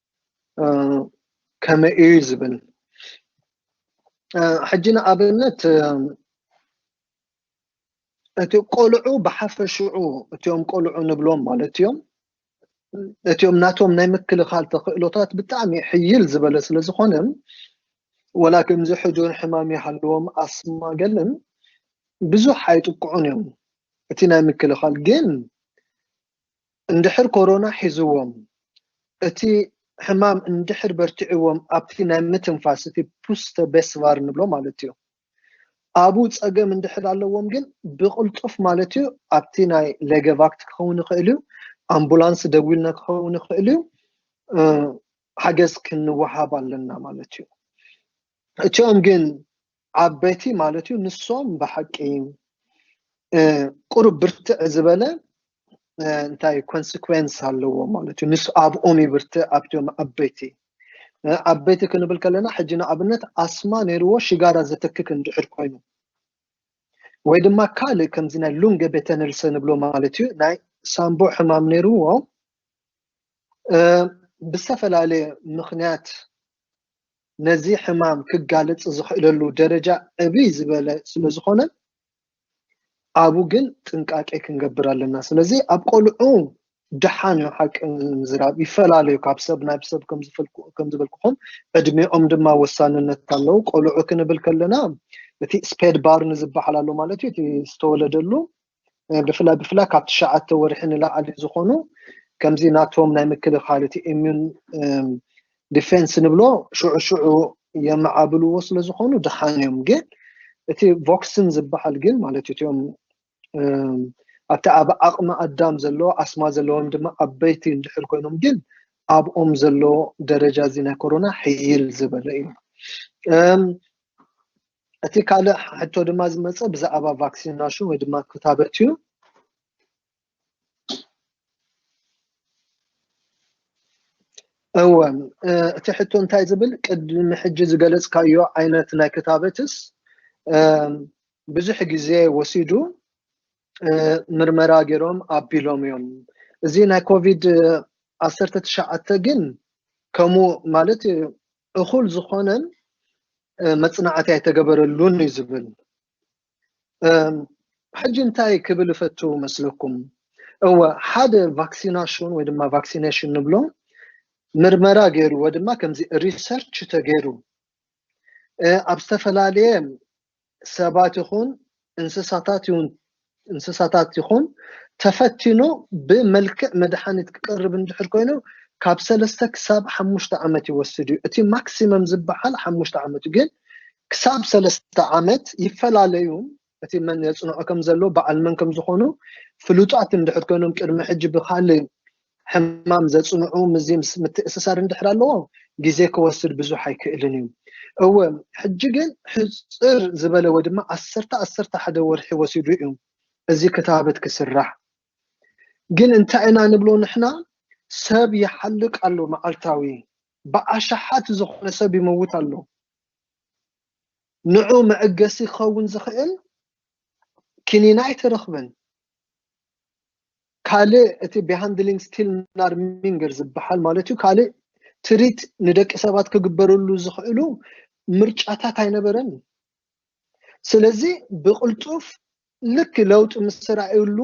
ከመይ እዩ ዝብል ሕጂ ንኣብነት እቲ ቆልዑ ብሓፈሽዑ እቲኦም ቆልዑ ንብሎም ማለት እዮም እቲኦም ናቶም ናይ ምክልኻል ተኽእሎታት ብጣዕሚ ሕይል ዝበለ ስለ ዝኾነ ወላ ከምዚ ሕዱር ሕማም ይሃልዎም ኣስማ ገለን ብዙሕ ኣይጥቅዑን እዮም እቲ ናይ ምክልኻል ግን እንድሕር ኮሮና ሒዝዎም እቲ ሕማም እንድሕር በርቲዕዎም ኣብቲ ናይ ምትንፋስ እቲ ፑስተ ቤስቫር ንብሎ ማለትዩ ኣብኡ ጸገም እንድሕር ኣለዎም ግን ብቕልጡፍ ማለትዩ ኣብቲ ናይ ሌገቫክት ክኸውን ይኽእልዩ ኣምቡላንስ ደዊልና ክኸውን ይኽእልዩ ሓገዝ ክንወሃብ ኣለና ማለትዩ እቲኦም ግን ዓበይቲ ማለት እዩ ንሶም ብሓቂ ቁሩብ ብርትዕ ዝበለ እንታይ ኮንስኩዌንስ ኣለዎ ማለት እዩ ንስ ኣብኦም ይብርትዕ ኣብቶም ዓበይቲ ዓበይቲ ክንብል ከለና ሕጂ ንኣብነት ኣስማ ነይርዎ ሽጋራ ዘተክክ እንድሕር ኮይኑ ወይ ድማ ካልእ ከምዚ ናይ ሉንገ ቤተነልሰ ንብሎ ማለት እዩ ናይ ሳምቦ ሕማም ነይርዎ ብዝተፈላለየ ምክንያት ነዚ ሕማም ክጋለፅ ዝኽእለሉ ደረጃ ዕብይ ዝበለ ስለዝኾነ ኣብኡ ግን ጥንቃቄ ክንገብር ኣለና። ስለዚ ኣብ ቆልዑ ደሓን እዩ ሓቂ ምዝራብ ይፈላለዩ ካብ ሰብ ናብ ሰብ ከም ዝበልኩኹም ዕድሜኦም ድማ ወሳንነት ኣለዉ። ቆልዑ ክንብል ከለና እቲ ስፔድ ባርን ዝበሃል ኣሎ ማለት እዩ እቲ ዝተወለደሉ ብፍላይ ብፍላይ ካብ ትሽዓተ ወርሒ ንላዕሊ ዝኾኑ ከምዚ ናቶም ናይ ምክልኻል እቲ ኢሚዩን ዲፌንስ ንብሎ ሽዑ ሽዑ የመዓብልዎ ስለ ዝኾኑ ድሓን እዮም ግን እቲ ቮክስን ዝበሃል ግን ማለት እትኦም ኣብቲ ኣብ ዓቕሚ ኣዳም ዘሎ ኣስማ ዘለዎም ድማ ዓበይቲ እንድሕር ኮይኖም ግን ኣብኦም ዘሎ ደረጃ እዚ ናይ ኮሮና ሕይል ዝበለ እዩ እቲ ካልእ ሕቶ ድማ ዝመጸ ብዛዕባ ቫክሲናሽን ወይ ድማ ክታበት እዩ እወ እቲ ሕቶ እንታይ ዝብል ቅድሚ ሕጂ ዝገለጽካዮ ዓይነት ናይ ክታበትስ ብዙሕ ግዜ ወሲዱ ምርመራ ገይሮም ኣቢሎም እዮም እዚ ናይ ኮቪድ ዓሰርተ ትሽዓተ ግን ከምኡ ማለት እኹል ዝኾነን መጽናዕቲ ኣይተገበረሉን እዩ ዝብል ሕጂ እንታይ ክብል እፈቱ መስለኩም እወ ሓደ ቫክሲናሽን ወይ ድማ ቫክሲኔሽን ንብሎ ምርመራ ገይሩ ወይ ድማ ከምዚ ሪሰርች ተገይሩ ኣብ ዝተፈላለየ ሰባት ይኹን እንስሳታት ይኹን እንስሳታት ይኹን ተፈቲኑ ብመልክዕ መድሓኒት ክቀርብ እንድሕር ኮይኑ ካብ ሰለስተ ክሳብ ሓሙሽተ ዓመት ይወስድ እዩ እቲ ማክሲመም ዝበሃል ሓሙሽተ ዓመት እዩ ግን ክሳብ ሰለስተ ዓመት ይፈላለዩን እቲ መን የፅንዖ ከም ዘሎ በዓል መን ከም ዝኾኑ ፍሉጣት እንድሕር ኮይኖም ቅድሚ ሕጂ ብካልእ ሕማም ዘጽንዑ ምስ ምትእስሳር እንድሕር ኣለዎ ግዜ ክወስድ ብዙሕ ኣይክእልን እዩ እወ ሕጂ ግን ሕጽር ዝበለ ወይ ድማ ዓሰርተ ዓሰርተ ሓደ ወርሒ ወሲዱ እዩ እዚ ክታበት ክስራሕ ግን እንታይ ኢና ንብሎ ንሕና ሰብ ይሓልቅ ኣሎ መዓልታዊ ብኣሽሓት ዝኾነ ሰብ ይመውት ኣሎ ንዑ መዕገሲ ክኸውን ዝኽእል ኪኒና ኣይተረኽበን ካልእ እቲ ቢሃንድሊንግ ስቲልናርሚንገር ዝበሃል ማለት እዩ ካልእ ትሪት ንደቂ ሰባት ክግበርሉ ዝኽእሉ ምርጫታት ኣይነበረን እዩ ስለዚ ብቕልጡፍ ልክ ለውጢ ምስ ተራእዩሉ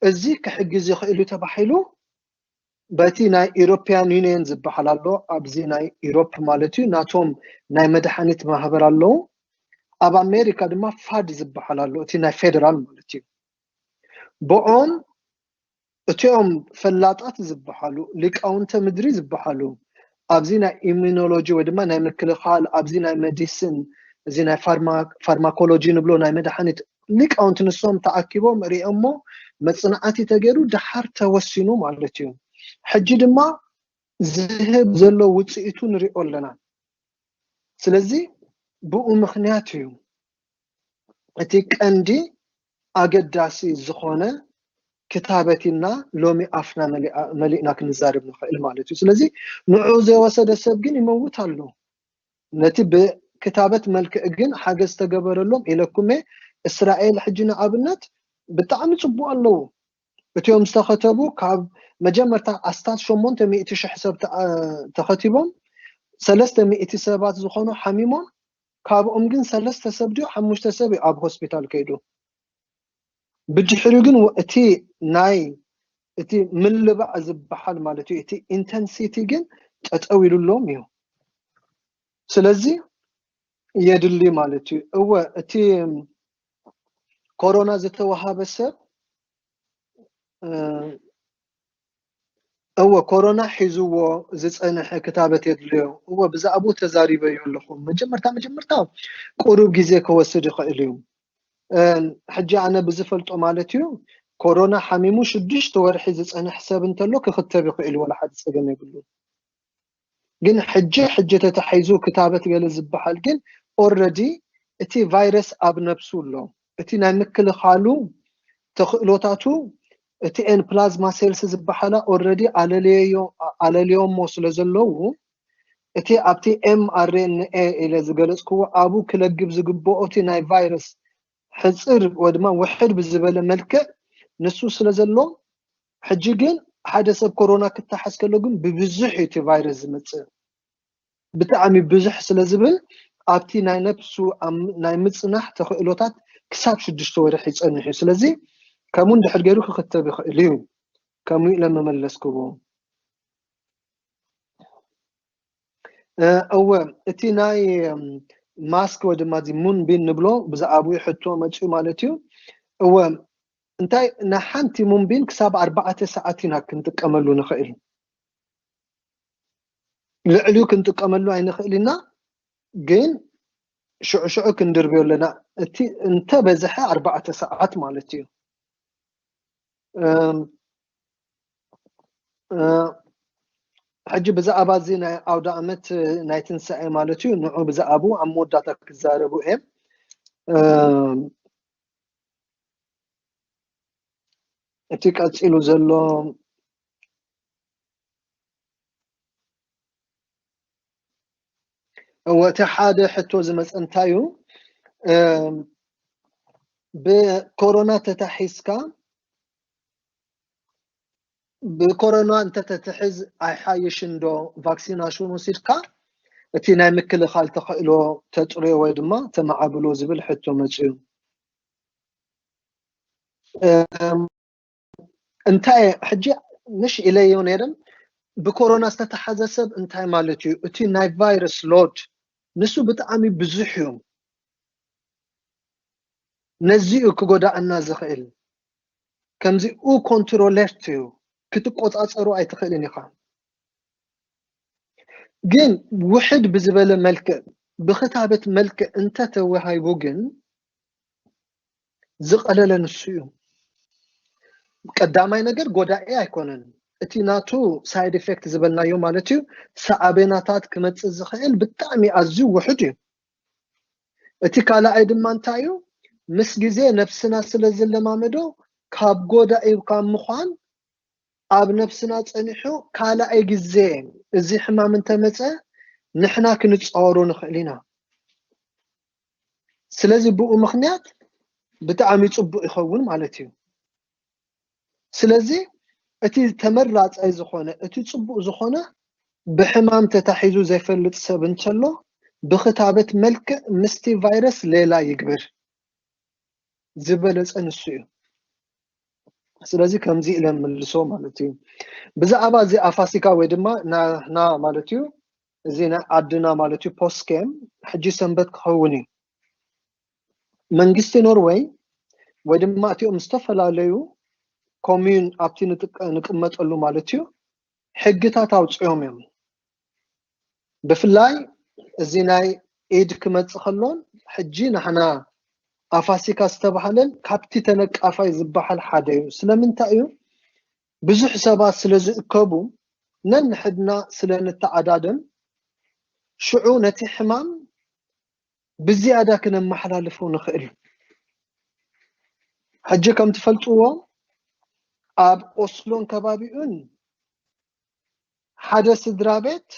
እዚ ክሕግዝ ይኽእል እዩ ተባሂሉ በቲ ናይ ኢሮፕያን ዩኒየን ዝበሃል ኣሎ ኣብዚ ናይ ኢሮፕ ማለት እዩ ናቶም ናይ መድሓኒት ማህበር ኣለዉ ኣብ ኣሜሪካ ድማ ፋድ ዝበሃል ኣሎ እቲ ናይ ፌደራል ማለት እዩ ብኦም እቲኦም ፈላጣት ዝበሃሉ ሊቃውንተ ምድሪ ዝበሃሉ ኣብዚ ናይ ኢሚኖሎጂ ወይ ድማ ናይ ምክልኻል ኣብዚ ናይ መዲስን እዚ ናይ ፋርማኮሎጂ ንብሎ ናይ መድሓኒት ሊቃውንቲ ንሶም ተኣኪቦም ሪኦሞ መፅናዕቲ ተገይሩ ደሓር ተወሲኑ ማለት እዩ ሕጂ ድማ ዝህብ ዘሎ ውፅኢቱ ንሪኦ ኣለና ስለዚ ብኡ ምክንያት እዩ እቲ ቀንዲ ኣገዳሲ ዝኾነ ክታበት ኢልና ሎሚ ኣፍና መሊእና ክንዛርብ ንኽእል ማለት እዩ። ስለዚ ንዑ ዘይወሰደ ሰብ ግን ይመውት ኣሎ። ነቲ ብክታበት መልክዕ ግን ሓገዝ ተገበረሎም ኢለኩሜ እስራኤል ሕጂ ንኣብነት ብጣዕሚ ጽቡቅ ኣለዉ እትዮም ዝተኸተቡ ካብ መጀመርታ ኣስታት ሸሞንተ ሚእቲ ሽሕ ሰብ ተኸቲቦም ሰለስተ ሚእቲ ሰባት ዝኾኑ ሓሚሞም ካብኦም ግን ሰለስተ ሰብ ድዩ ሓሙሽተ ሰብ እዩ ኣብ ሆስፒታል ከይዱ ብድሕሪኡ ግን እቲ ናይ እቲ ምልባዕ ዝበሓል ማለት እዩ እቲ ኢንተንሲቲ ግን ጠጠው ኢሉሎም እዩ ስለዚ የድሊ ማለት እዩ እወ እቲ ኮሮና ዝተዋሃበ ሰብ እወ ኮሮና ሒዝዎ ዝፀንሐ ክታበት የድልዮ እወ ብዛዕብኡ ተዛሪበዮ ኣለኹ መጀመርታ መጀመርታ ቁሩብ ግዜ ከወስድ ይኽእል እዩ ሕጂ ኣነ ብዝፈልጦ ማለት እዩ ኮሮና ሓሚሙ ሽዱሽተ ወርሒ ዝፀንሕ ሰብ እንተሎ ክኽተብ ይኽእል እዩ ዋላ ሓደ ፀገም የብሉን ግን ሕጂ ሕጂ ተታሒዙ ክታበት ገለ ዝባሃል ግን ኦረዲ እቲ ቫይረስ ኣብ ነብሱ ኣሎ እቲ ናይ ምክልኻሉ ተኽእሎታቱ እቲኤን ፕላዝማ ሴልስ ዝባሃላ ኦረዲ ኣለልዮሞ ስለ ዘለዉ እቲ ኣብቲ ኤምኣርኤንኤ ኢለ ዝገለጽክዎ ኣብኡ ክለግብ ዝግበኦ እቲ ናይ ቫይረስ ሕጽር ወድማ ውሕድ ብዝበለ መልክዕ ንሱ ስለ ዘሎ ሕጂ ግን ሓደ ሰብ ኮሮና ክታሓዝ ከሎ ግን ብብዙሕ እዩ እቲ ቫይረስ ዝመጽእ ብጣዕሚ ብዙሕ ስለ ዝብል ኣብቲ ናይ ነብሱ ናይ ምጽናሕ ተኽእሎታት ክሳብ ሽዱሽተ ወርሒ ይጸንሕ እዩ ስለዚ ከምኡ እንድሕር ገይሩ ክኽተብ ይኽእል እዩ ከምኡ ኢለ መመለስክዎ እወ እቲ ናይ ማስክ ወይ ድማ እዚ ሙንቢን ንብሎ ብዛዕባኡ ሕቶ መጽኡ ማለት እዩ እወ እንታይ ንሓንቲ ሙንቢን ክሳብ ኣርባዕተ ሰዓት ኢና ክንጥቀመሉ ንኽእል ልዕሊኡ ክንጥቀመሉ ኣይንኽእል ኢና ግን ሽዑ ሽዑ ክንድርብዮ ኣለና እቲ እንተበዝሐ ኣርባዕተ ሰዓት ማለት እዩ ሕጂ ብዛዕባ እዚ ናይ ኣውደ ኣመት ናይ ትንሳኤ ማለት እዩ ንዑ ብዛዕባኡ ኣብ መወዳእታ ክዛረቡ እየ እቲ ቀጺሉ ዘሎ እወ እቲ ሓደ ሕቶ ዝመፀ እንታይ እዩ ብኮሮና ተታሒዝካ ብኮሮና እንተተትሕዝ ኣይሓይሽን ዶ ቫክሲናሽን ወሲድካ እቲ ናይ ምክልኻል ተኸእሎ ተጽርዮ ወይ ድማ ተማዓብሎ ዝብል ሕቶ መጺኡ። እንታይ ሕጂ ምሽ ኢለዮ ነይረ ብኮሮና ዝተታሓዘ ሰብ እንታይ ማለት እዩ እቲ ናይ ቫይረስ ሎድ ንሱ ብጣዕሚ ብዙሕ እዩ ነዚ እዩ ክጎዳእና ዝኽእል ከምዚ ኡ ኮንትሮለርት እዩ ክትቆጻጸሩ ኣይትኽእልን ኢኻ ግን ውሕድ ብዝበለ መልክዕ ብክታበት መልክዕ እንተተወሃይቡ ግን ዝቐለለ ንሱ እዩ ቀዳማይ ነገር ጎዳኢ ኣይኮነን እቲ ናቱ ሳይድ ኤፌክት ዝበልናዮ ማለት እዩ ሰዓቤናታት ክመፅእ ዝኽእል ብጣዕሚ ኣዝዩ ውሕድ እዩ እቲ ካልኣይ ድማ እንታይ እዩ ምስ ግዜ ነብስና ስለ ዝለማመዶ ካብ ጎዳኢ ካብ ምዃን ኣብ ነብስና ጸኒሑ ካልኣይ ግዜ እዚ ሕማም እንተመጸ ንሕና ክንጻወሮ ንኽእል ኢና ስለዚ ብኡ ምኽንያት ብጣዕሚ ጽቡቅ ይኸውን ማለት እዩ ስለዚ እቲ ተመራጻይ ዝኾነ እቲ ጽቡቅ ዝኾነ ብሕማም ተታሒዙ ዘይፈልጥ ሰብ እንተሎ ብኽታበት መልክዕ ምስቲ ቫይረስ ሌላ ይግበር ዝበለጸ ንሱ እዩ ስለዚ ከምዚ ኢለ ምልሶ ማለት እዩ ብዛዕባ እዚ ኣፋሲካ ወይ ድማ ናና ማለት እዩ እዚ ናይ ዓድና ማለት እዩ ፖስኬም ሕጂ ሰንበት ክኸውን እዩ መንግስቲ ኖርወይ ወይ ድማ እቲኦም ዝተፈላለዩ ኮሚዩን ኣብቲ ንቅመጠሉ ማለት እዩ ሕግታት ኣውፅኦም እዮም ብፍላይ እዚ ናይ ኢድ ክመፅእ ከሎን ሕጂ ንሕና ኣፋሲካ ዝተባሃለን ካብቲ ተነቃፋይ ዝበሃል ሓደ እዩ ስለምንታይ እዩ ብዙሕ ሰባት ስለ ዝእከቡ ነንሕድና ስለ ንተዓዳደም ሽዑ ነቲ ሕማም ብዝያዳ ክነመሓላልፎ ንኽእል። ሕጂ ከም ትፈልጥዎ ኣብ ኦስሎን ከባቢኡን ሓደ ስድራ ቤት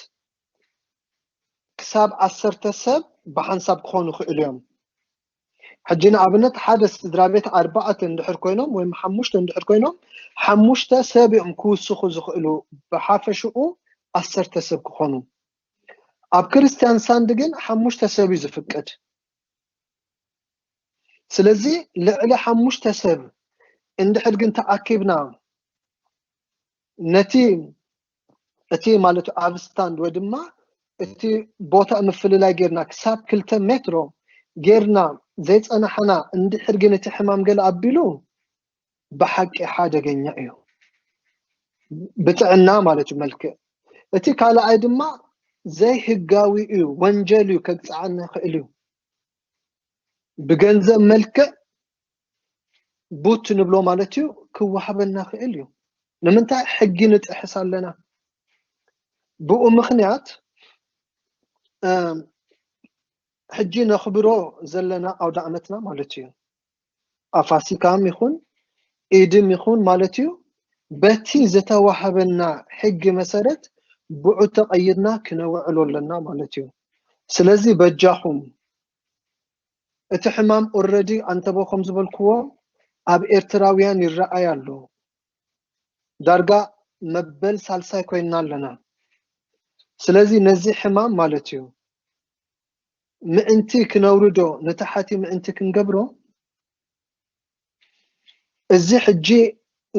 ክሳብ ዓሰርተ ሰብ ብሓንሳብ ክኾኑ ይኽእሉ እዮም። ሕጂ ንኣብነት ሓደ ስድራ ቤት ኣርባዕተ እንድሕር ኮይኖም ወይም ሓሙሽተ እንድሕር ኮይኖም ሓሙሽተ ሰብ እዮም ክውስኹ ዝኽእሉ ብሓፈሽኡ ዓሰርተ ሰብ ክኾኑ ኣብ ክርስትያን ሳንድ ግን ሓሙሽተ ሰብ እዩ ዝፍቀድ ስለዚ ልዕሊ ሓሙሽተ ሰብ እንድሕር ግን ተኣኪብና ነቲ እቲ ማለት ኣብ ስታንድ ወይ ድማ እቲ ቦታ ምፍልላይ ጌርና ክሳብ ክልተ ሜትሮ ጌርና ዘይፀናሕና እንድሕር ግን እቲ ሕማም ገለ ኣቢሉ ብሓቂ ሓደገኛ እዩ ብጥዕና ማለት እዩ መልክእ እቲ ካልኣይ ድማ ዘይህጋዊ እዩ ወንጀል እዩ ከግፅዓና ይኽእል እዩ ብገንዘብ መልክዕ ቡት ንብሎ ማለት እዩ ክወሃበና ይኽእል እዩ ንምንታይ ሕጊ ንጥሕስ ኣለና ብኡ ምኽንያት ሕጂ ነኽብሮ ዘለና ኣውደ ኣመትና ማለት እዩ ኣብ ፋሲካም ይኹን ኢድም ይኹን ማለት እዩ በቲ ዝተዋህበና ሕጊ መሰረት ብዑ ተቐይድና ክነውዕሎ ኣለና ማለት እዩ ስለዚ በጃኹም እቲ ሕማም ኦረዲ ኣንተቦ ከም ዝበልክዎ ኣብ ኤርትራውያን ይረኣይ ኣሎ ዳርጋ መበል ሳልሳይ ኮይና ኣለና ስለዚ ነዚ ሕማም ማለት እዩ ምእንቲ ክነውርዶ ንታሓቲ ምእንቲ ክንገብሮ እዚ ሕጂ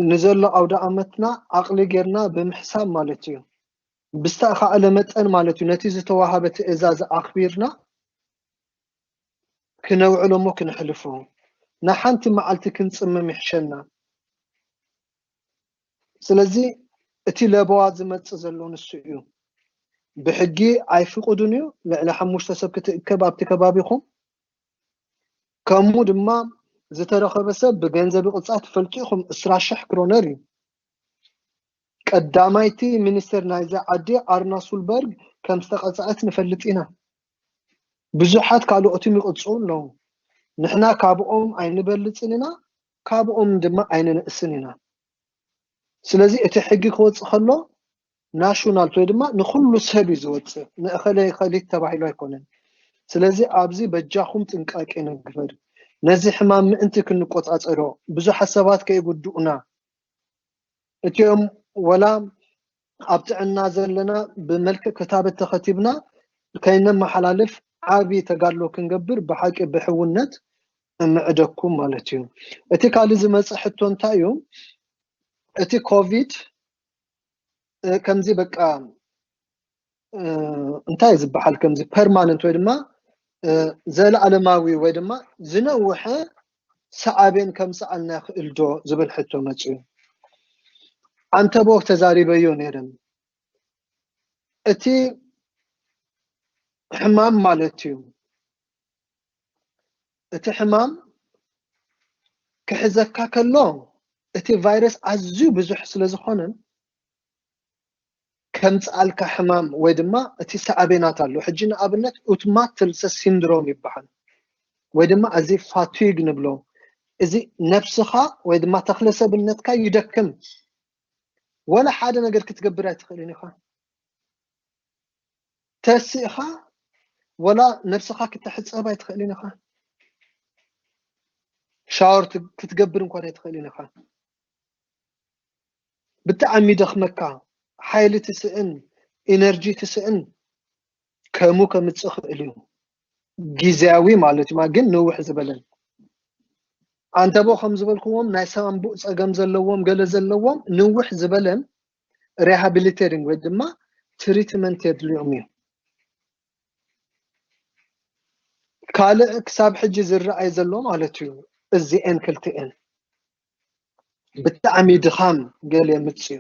ንዘሎ ኣውደኣመትና ዓቕሊ ጌርና ብምሕሳብ ማለት እዩ ብዝተኻእለ መጠን ማለት እዩ ነቲ ዝተዋሃበ ትእዛዝ ኣኽቢርና ክነውዕሎ እሞ ክነሕልፎ ንሓንቲ መዓልቲ ክንጽምም ይሕሸና። ስለዚ እቲ ለበዋ ዝመጽእ ዘሎ ንሱ እዩ። ብሕጊ ኣይፍቅዱን እዩ ልዕሊ ሓሙሽተ ሰብ ክትእከብ ኣብቲ ከባቢኹም ከምኡ ድማ ዝተረኸበ ሰብ ብገንዘብ ቅጻት ትፈልጡ ኢኹም እስራ ሽሕ ክሮነር እዩ። ቀዳማይቲ ሚኒስትር ናይዛ ዓዲ ኣርና ሱልበርግ ከም ዝተቐጽዐት ንፈልጥ ኢና። ብዙሓት ካልኦትን ይቕጽዑ ኣለዉ። ንሕና ካብኦም ኣይንበልጽን ኢና ካብኦም ድማ ኣይንንእስን ኢና። ስለዚ እቲ ሕጊ ክወጽእ ከሎ ናሽናልት ወይ ድማ ንኹሉ ሰብ እዩ ዝወጽእ ንእኸለ እኸሊት ተባሂሉ ኣይኮነን። ስለዚ ኣብዚ በጃኹም ጥንቃቄ ንግበር። ነዚ ሕማም ምእንቲ ክንቆጻጸሮ ብዙሓት ሰባት ከይጉድኡና እቲኦም ወላ ኣብ ጥዕና ዘለና ብመልክዕ ክታበት ተኸቲብና ከይነመሓላልፍ ዓቢ ተጋድሎ ክንገብር ብሓቂ ብሕውነት እምዕደኩም ማለት እዩ። እቲ ካልእ ዝመጽእ ሕቶ እንታይ እዩ? እቲ ኮቪድ ከምዚ በቃ እንታይ ዝበሃል ከምዚ ፐርማነንት ወይ ድማ ዘለኣለማዊ ወይ ድማ ዝነውሐ ሰዓቤን ከምፅኣልና ይኽእል ዶ ዝብል ሕቶ መፅኡ ዓንተቦ ተዛሪበዮ ነይረን እቲ ሕማም ማለት እዩ እቲ ሕማም ክሕዘካ ከሎ እቲ ቫይረስ ኣዝዩ ብዙሕ ስለ ዝኾነን ከምጽኣልካ ሕማም ወይ ድማ እቲ ሳዕቤናት ኣሎ ሕጂ ንኣብነት ኡትማት ትልሰ ሲንድሮም ይበሃል ወይ ድማ እዚ ፋቲግ ንብሎ እዚ ነብስኻ ወይ ድማ ተክለ ሰብነትካ ይደክም ወላ ሓደ ነገር ክትገብር ኣይትኽእልን ኢኻ ተሲእኻ ወላ ነብስኻ ክተሕጸብ ኣይትኽእልን ኢኻ ሻወር ክትገብር እንኳን ኣይትኽእልን ኢኻ ብጣዕሚ ይደኽመካ ሓይሊ ትስእን ኢነርጂ ትስእን ከምኡ ከምጽእ ይኽእል እዩ ግዝያዊ ማለት እዩ ግን ንውሕ ዝበለ ኣንተቦ ከም ዝበልክዎም ናይ ሳምቡእ ጸገም ዘለዎም ገለ ዘለዎም ንውሕ ዝበለን ሪሃቢሊቴሪንግ ወይ ድማ ትሪትመንት የድልዮም እዩ ካልእ ክሳብ ሕጂ ዝረኣይ ዘሎ ማለት እዩ እዚኤን ክልቲኤን ብጣዕሚ ድኻም ገለ የምጽኡ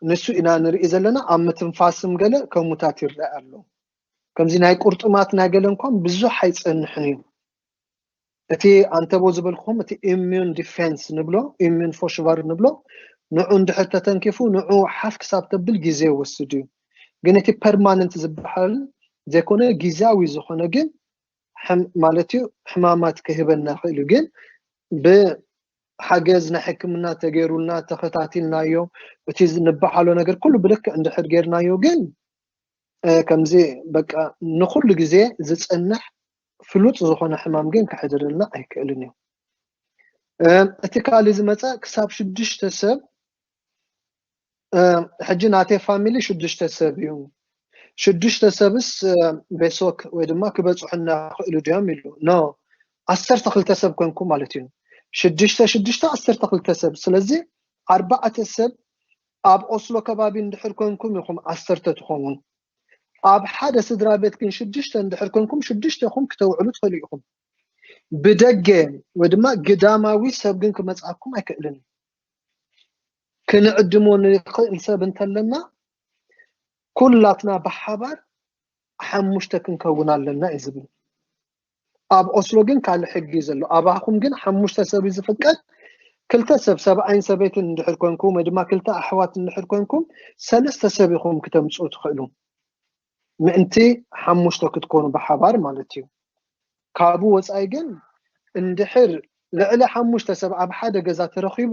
ንሱ ኢና ንርኢ ዘለና ኣብ ምትንፋስም ገለ ከሙታት ይረኣ ኣሎ ከምዚ ናይ ቁርጥማት ናይ ገለ እንኳን ብዙሕ ኣይጸንሕን እዩ እቲ ኣንተቦ ዝበልኩም እቲ ኢሚዩን ዲፌንስ ንብሎ ኢሚዩን ፎሽቫር ንብሎ ንዑ እንድሕር ተተንኪፉ ንዑ ሓፍ ክሳብ ተብል ግዜ ይወስድ እዩ ግን እቲ ፐርማነንት ዝበሃል ዘይኮነ ግዜያዊ ዝኾነ ግን ማለትዩ ሕማማት ክህበና ክእልዩ ግን ብሓገዝ ናይ ሕክምና ተገይሩልና ተኸታቲልናዮ እቲ ንበዓሎ ነገር ኩሉ ብልክዕ እንድሕር ገይርናዮ ግን ከምዚ በቃ ንኹሉ ግዜ ዝፀንሕ ፍሉጥ ዝኾነ ሕማም ግን ክሕድርልና ኣይክእልን እዩ እቲ ካልእ ዝመፀ ክሳብ ሽዱሽተ ሰብ ሕጂ ናተይ ፋሚሊ ሽዱሽተ ሰብ እዩ ሽዱሽተ ሰብስ ቤሶክ ወይ ድማ ክበፅሑና ክእሉ ድዮም ኢሉ ኖ ዓሰርተ ክልተ ሰብ ኮንኩም ማለት እዩ ሽዱሽተ ሽዱሽተ ዓሰርተ ክልተ ሰብ ስለዚ ኣርባዕተ ሰብ ኣብ ኦስሎ ከባቢ እንድሕር ኮንኩም ኢኹም ዓሰርተ ትኾኑ ኣብ ሓደ ስድራ ቤት ግን ሽዱሽተ እንድሕር ኮንኩም ሽዱሽተ ኢኹም ክተውዕሉ ትኽእሉ ኢኹም ብደገ ወይ ድማ ግዳማዊ ሰብ ግን ክመፅኣኩም ኣይክእልን እዩ ክንዕድሞ ንኽእል ሰብ እንተለና ኩላትና ብሓባር ሓሙሽተ ክንከውን ኣለና እዩ ዝብል ኣብ ኦስሎ ግን ካልእ ሕጊ እዩ ዘሎ ኣባኹም ግን ሓሙሽተ ሰብ እዩ ዝፍቀድ ክልተ ሰብ ሰብኣይን ሰበይትን እንድሕር ኮንኩም ወይ ድማ ክልተ ኣሕዋት እንድሕር ኮንኩም ሰለስተ ሰብ ኢኹም ክተምፁ ትኽእሉ ምእንቲ ሓሙሽተ ክትኮኑ ብሓባር ማለት እዩ ካብኡ ወፃኢ ግን እንድሕር ልዕሊ ሓሙሽተ ሰብ ኣብ ሓደ ገዛ ተረኺቡ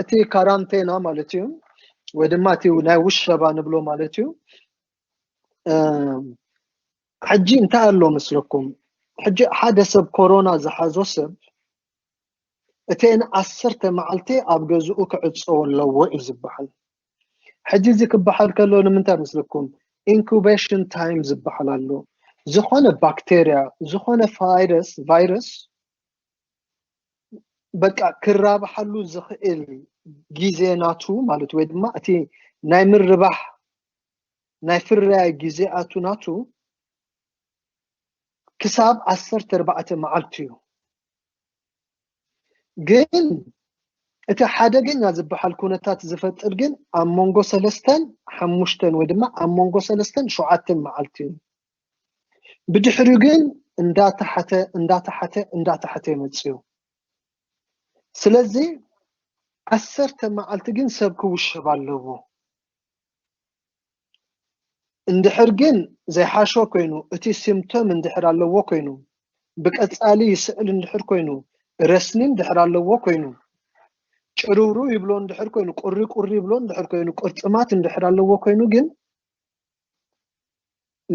እቲ ካራንቴና ማለት እዩ ወይ ድማ እቲ ናይ ውሸባ ንብሎ ማለት እዩ ሕጂ እንታይ ኣሎ ምስለኩም ሕጂ ሓደ ሰብ ኮሮና ዝሓዞ ሰብ እተን ዓሰርተ መዓልቲ ኣብ ገዝኡ ክዕፀዎ ኣለዎ እዩ ዝበሃል ሕጂ እዚ ክበሃል ከሎ ንምንታይ መስለኩም ኢንኩበሽን ታይም ዝበሃል ኣሎ ዝኾነ ባክተርያ ዝኾነ ፋይረስ ቫይረስ በቃ ክራብሓሉ ዝኽእል ግዜ ናቱ ማለት ወይ ድማ እቲ ናይ ምርባሕ ናይ ፍርያይ ግዜኣቱ ናቱ ክሳብ ዓሰርተ ኣርባዕተ መዓልቲ እዩ ግን እቲ ሓደገኛ ዝበሓል ኩነታት ዝፈጥር ግን ኣብ መንጎ ሰለስተን ሓሙሽተን ወይ ድማ ኣብ መንጎ ሰለስተን ሸውዓተን መዓልቲ እዩ። ብድሕሪኡ ግን እንዳተሓተ እንዳተሓተ እንዳተሓተ ይመጽእ እዩ። ስለዚ ዓሰርተ መዓልቲ ግን ሰብ ክውሸብ ኣለዎ። እንድሕር ግን ዘይሓሾ ኮይኑ እቲ ሲምፕቶም እንድሕር ኣለዎ ኮይኑ ብቀጻሊ ይስዕል እንድሕር ኮይኑ ረስኒ እንድሕር ኣለዎ ኮይኑ ጭርውርው ይብሎ እንድሕር ኮይኑ ቁሪ ቁሪ ይብሎ እንድሕር ኮይኑ ቁርጥማት እንድሕር ኣለዎ ኮይኑ ግን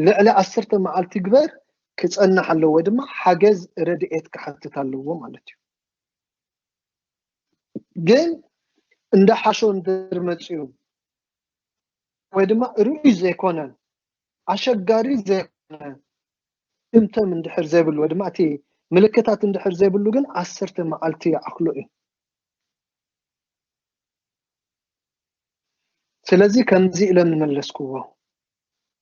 ልዕሊ ዓሰርተ መዓልቲ ግበር ክጸንሕ ኣለዎ ድማ ሓገዝ ረድኤት ክሓትት ኣለዎ ማለት እዩ። ግን እንዳ ሓሾ እንድር መፅኡ ወይ ድማ ርኡይ ዘይኮነ ኣሸጋሪ ዘይኮነ እምተም እንድሕር ዘይብሉ ወይ ድማ እቲ ምልክታት እንድሕር ዘይብሉ ግን ዓሰርተ መዓልቲ ይኣኽሎ እዩ ስለዚ ከምዚ ኢለ ንመለስክዎ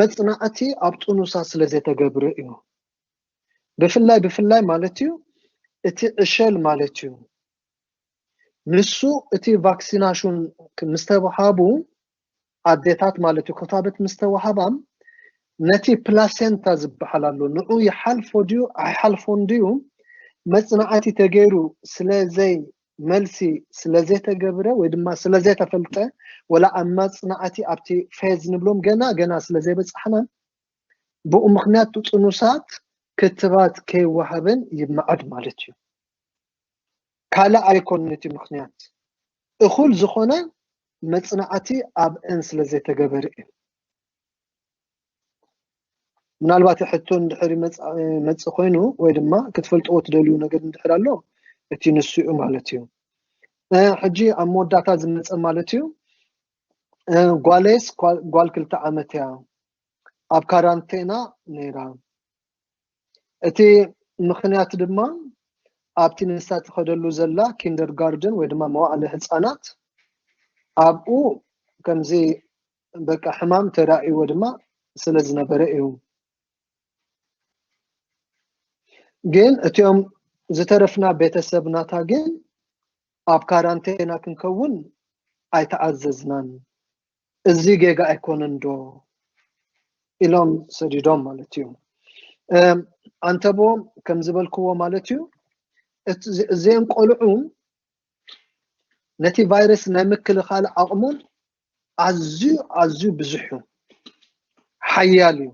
መጽናዕቲ ኣብ ጥኑሳት ስለ ዘይተገብረ እዩ። ብፍላይ ብፍላይ ማለት እዩ እቲ ዕሸል ማለት እዩ ንሱ እቲ ቫክሲናሹን ምስ ተውሃቡ ኣዴታት ማለት እዩ ክታበት ምስ ተዋህባም ነቲ ፕላሴንታ ዝበሃል ኣሎ ንዑ ይሓልፎ ድዩ ኣይሓልፎን ድዩ መጽናዕቲ ተገይሩ ስለ ዘይ መልሲ ስለዘይተገብረ ወይ ድማ ስለዘይተፈልጠ ወላ ኣብ መፅናዕቲ ኣብቲ ፌዝ ንብሎም ገና ገና ስለዘይበፃሕናን ብኡ ምክንያት እቲ ጥኑሳት ክትባት ከይወሃበን ይመዓድ ማለት እዩ። ካልእ ኣይኮን እቲ ምክንያት እኹል ዝኾነ መፅናዕቲ ኣብእን ስለዘይተገበረ እዩ። ምናልባት ሕቶ እንድሕር መፅ ኮይኑ ወይ ድማ ክትፈልጥዎ ትደልዩ ነገር እንድሕር ኣሎ እቲ ንሱ እዩ ማለት እዩ ሕጂ ኣብ መወዳእታ ዝመፀ ማለት እዩ ጓለይስ ጓል ክልተ ዓመት እያ ኣብ ካራንቴና ነይራ እቲ ምክንያት ድማ ኣብቲ ንሳ ትኸደሉ ዘላ ኪንደር ጋርደን ወይ ድማ መዋእለ ህፃናት ኣብኡ ከምዚ በቃ ሕማም ተራእይዎ ድማ ስለ ዝነበረ እዩ ግን እትኦም ዝተረፍና ቤተሰብናታ ግን ኣብ ካራንቴና ክንከውን ኣይተኣዘዝናን እዚ ጌጋ ኣይኮነን ዶ ኢሎም ሰዲዶም ማለት እዩ ኣንተብዎም ከም ዝበልክዎ ማለት እዩ እዚኦም ቆልዑ ነቲ ቫይረስ ናይ ምክልኻል ዓቕሙን ኣዝዩ ኣዝዩ ብዙሕ እዩ ሓያል እዩ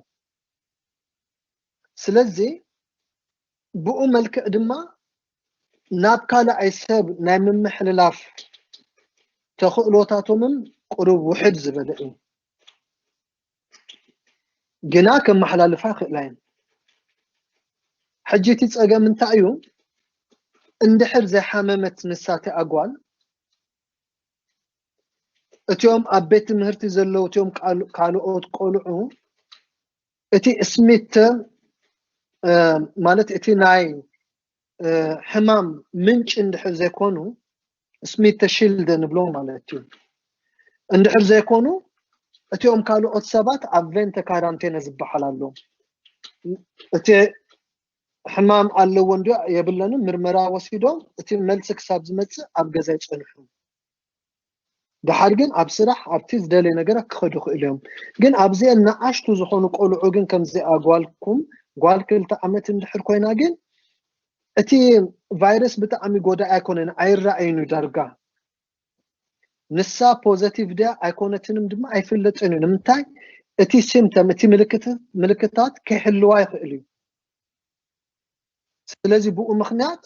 ስለዚ ብኡ መልክዕ ድማ ናብ ካልኣይ ሰብ ናይ ምምሕልላፍ ተኽእሎታቶምን ቅሩብ ውሕድ ዝበለ እዩ ግና ከመሓላልፋ ይኽእላ እየን ሕጂ እቲ ፀገም እንታይ እዩ እንድሕር ዘይሓመመት ንሳ እቲ ኣጓል እቲኦም ኣብ ቤት ትምህርቲ ዘለዉ እቲኦም ካልኦት ቆልዑ እቲ ስሚት ማለት እቲ ናይ ሕማም ምንጭ እንድሕር ዘይኮኑ ስሚት ተሽልደ ንብሎ ማለት እዩ እንድሕር ዘይኮኑ እቲኦም ካልኦት ሰባት ኣብ ቬንተ ካራንቴነ ዝበሃል ኣሎ እቲ ሕማም ኣለወን ድዩ የብለንን ምርመራ ወሲዶም እቲ መልሲ ክሳብ ዝመፅእ ኣብ ገዛ ይፀንሑ። ደሓር ግን ኣብ ስራሕ ኣብቲ ዝደለየ ነገራት ክኸዱ ይኽእሉ እዮም። ግን ኣብዚኤን ንኣሽቱ ዝኾኑ ቆልዑ ግን ከምዚኣ ጓልኩም ጓል ክልተ ዓመት እንድሕር ኮይና ግን እቲ ቫይረስ ብጣዕሚ ጎዳኢ ኣይኮነን ኣይረኣይን እዩ ዳርጋ ንሳ ፖዘቲቭ ድያ ኣይኮነትንም ድማ ኣይፍለጥን እዩ ንምንታይ እቲ ሲምተም እቲ ምልክታት ከይሕልዋ ይኽእል እዩ ስለዚ ብኡ ምክንያት